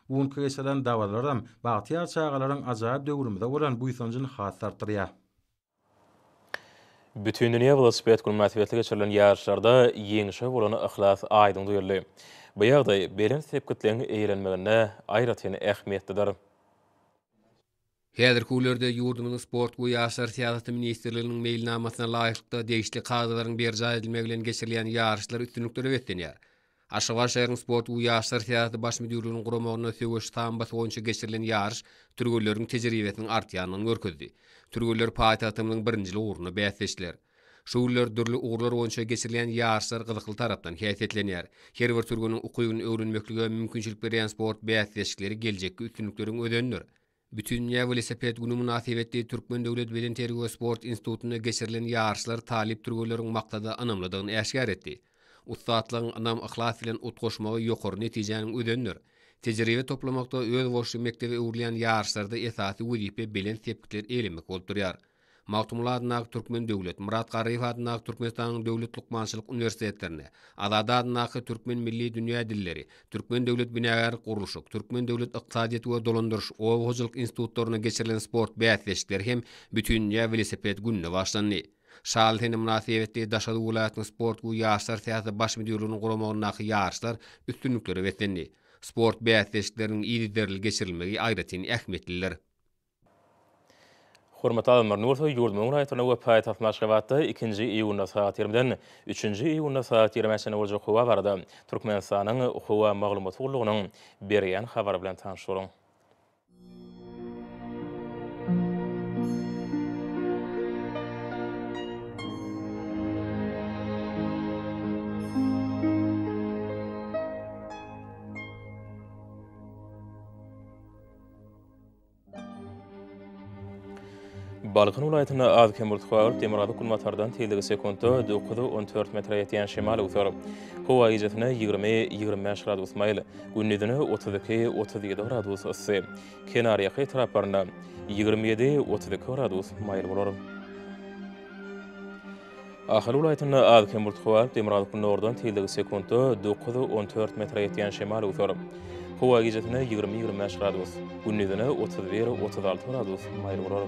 Bu günki geçirilen dabaralaram bagtyýar çagalaryň ajaýyp döwrümize bolan buýsanjyny has-da artdyrýar. Bütindünýä welosiped güni mynasybetli geçirilen ýaryşlarda ýeňşe bolan yhlas aýdyň duýuldy. Bu ýagdaý belent sepgitleň eýelenmeginde aýratyn ähmiýetlidir. Häzirki günlerde ýurdumyzyň Sport we ýaşlar syýasaty ministrliginiň meýilnamasyna laýyklykda degişli kadalaryň berjaý edilmegi bilen geçirilýän ýaryşlar üstünliklere beslenýär. Aşgabat şäheriniň Sport we ýaşlar syýasaty baş müdirliginiň guramagynda söweş sambosy boýunça geçirilen ýaryş türgenleriň tejribesiniň artýandygyny görkezdi. Türgenler paýtagtymyzyň birinjil ugrunda bäsleşdiler. Şu günler dürli ugurlar boýunça geçirilýän ýaryşlar gyzykly tarapdan häsiýetlenýär. Her bir türgeniň ukybyny öwrenmeklige mümkinçilik berýän sport bäsleşikleri geljekki üstünlikleriň özenidir. Bütindünýä welosiped güni mynasybetli Türkmen döwlet bedenterbiýe we sport institutynda geçirilen ýaryşlar talyp türgenleriň maksada ynamlydygyny äşgär etdi. Ussatlygyň ynam-yhlas bilen utgaşmagy ýokary netijäniň özenidir. Tejribe toplamakda özboluşly mekdebe öwrülýän ýaryşlarda esasy wezipe belent sepgitler eýlemek bolup durýar. Magtymguly adyndaky Türkmen döwlet, Myrat Garryýew adyndaky Türkmenistanyň döwlet lukmançylyk uniwersitetlerine, Azady adyndaky Türkmen milli dünýä dilleri, Türkmen döwlet binagärlik-gurluşyk, Türkmen döwlet ykdysadyýet we dolandyryş, oba hojalyk institutlaryna geçirilen sport bäsleşikleri hem Bütindünýä welosiped gününe başlandy. Şaly sene mynasybetli Daşoguz welaýatynyň sport we ýaşlar syýasaty baş müdirliginiň guramagyndaky ýaryşlar üstünliklere beslendi. Sport bäsleşikleriniň yzygiderli geçirilmegi aýratyn ähmiýetlidir. Hormatly alymlar, ne bolsa ýurdumyzyň raýatlaryna we paýtagtymyz Aşgabatda ikinji iýunda sagat ýigrimden üçünji iýunda sagat ýigrimi çenli boljak howa barada Türkmenistanyň Howa maglumat gullugynyň berýän habary bilen tanyş boluň. Balkan welaýatynda az-kem bultly, demirgazyk günbatardan tizligi sekuntda dokuz, on dört metre ýetýän şemal öwser. Howa gijesine ýigrimi, ýigrimi bäş gradus maýyl, gündizine otuz iki, otuz ýedi gradus yssy, kenarýaka etraplarynda ýigrimi ýedi, otuz iki gradus maýyl bolar. Ahal welaýatynda az-kem bulut howalp, demirgazyk günordan tizligi sekuntda dokuz, on dört metre ýetýän şemal öwser. Howa gijesine ýigrimi, ýigrimi bäş gradus, gündizine otuz bir, otuz alty gradus maýyl bolar.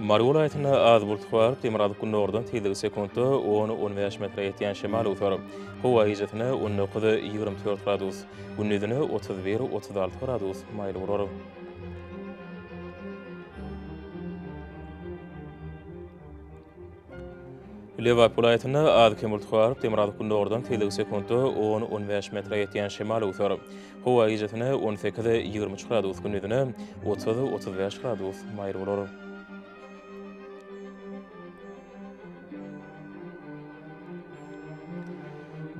Mary welaýatynda az bulut howalp, demirgazyk günordan tizligi sekuntda on, on bäş metre ýetýän şemal öwser. Howa gijesine on dokuz, ýigrimi dört gradus, Gündizine otuz bir, otuz alty gradus maýyl bolar. Lebap welaýatynda az-kem bulut garyp, demirgazyk-gündogardan tizligi sekuntda 10-15 bäş metre ýetýän şemal öwser. Howa gijasine on sekiz, ýigrimi üç gradus, gündizine otuz, otuz bäş gradus maýyl bolar.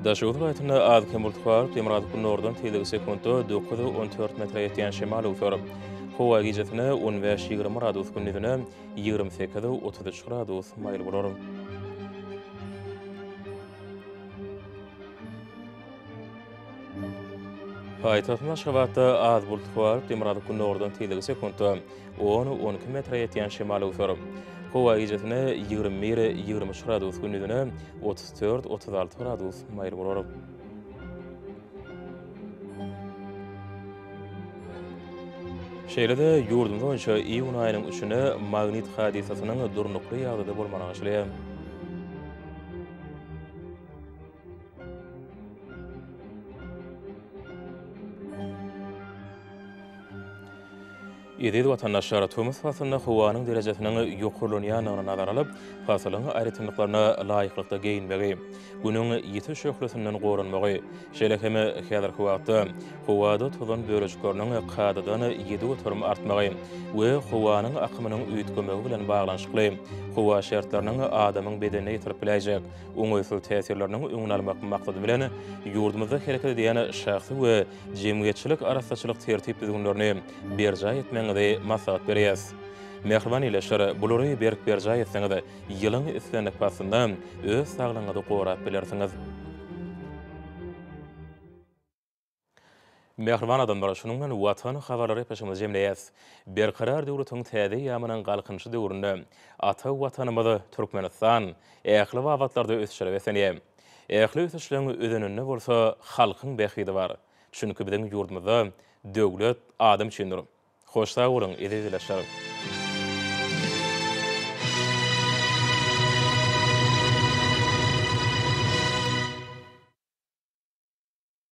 Daşoguz welaýatynda az-kem bulut bar, demirgazyk-gündogardan tegelegi sekuntda dokuz, on dört metre ýetýän şemal öwser. Howa gijesine on bäş, ýigrimi gradus, gündizine ýigrimi sekiz, otuz üç gradus maýyl bolar. Paýtagtymyz Aşgabatda az bulut bar, demirgazyk-gündogardan tegelegi sekuntda On, on iki metre ýetýän şemal öwser. Howa gijesine ýigrimi bir, ýigrimi üç gradus, gündizine otuz dört, otuz alty gradus maýyl bolar. Şeýle-de, ýurdumyz boýunça iýun aýynyň üçüne magnit hadysasynyň durnukly ýagdaýda bolmagy aňşylýar. Eziz watandaşlar, tomus paslynda howanyň derejesiniň ýokarlanýandygyny nazara alyp, pasylyň aýratynlyklaryna laýyklykda geýinmegi, Günüň ýiti şöhlesinden goranmagy, şeýle hem häzirki wagtda howada tozan bölejikleriniň kadadan ýedi göterim artmagy we howanyň akymynyň üýtgemegi bilen baglanyşykly howa şertleriniň adamyň bedenine ýetirip biläýjek oňaýsyz täsirleriniň öňüni almak maksady bilen, ýurdumyzda hereket edýän şahsy we jemgyýetçilik arassaçylyk tertip-düzgünlerini berjaý etmegiňizi maslahat berýäs. Mähriban ýyleşir, bulary berk berjaý etseňiz, ýylyň islendik paslynda öz saglygyňyzy gorap bilersiňiz. Mähriban adamlar, şunuň bilen Watan habarlary gepleşigimizi jemleýäs. Berkarar döwletiň täze eýýamynyň Galkynyşy döwründe ata Watanymyz Türkmenistan ähli babatlarda ösüşlere beslenýär. Ähli ösüşleň özeninde bolsa halkyň bähbidi bar. Çünki biziň ýurdumyzda Döwlet adam üçindir. Hoş sag boluň eziz ildeşler.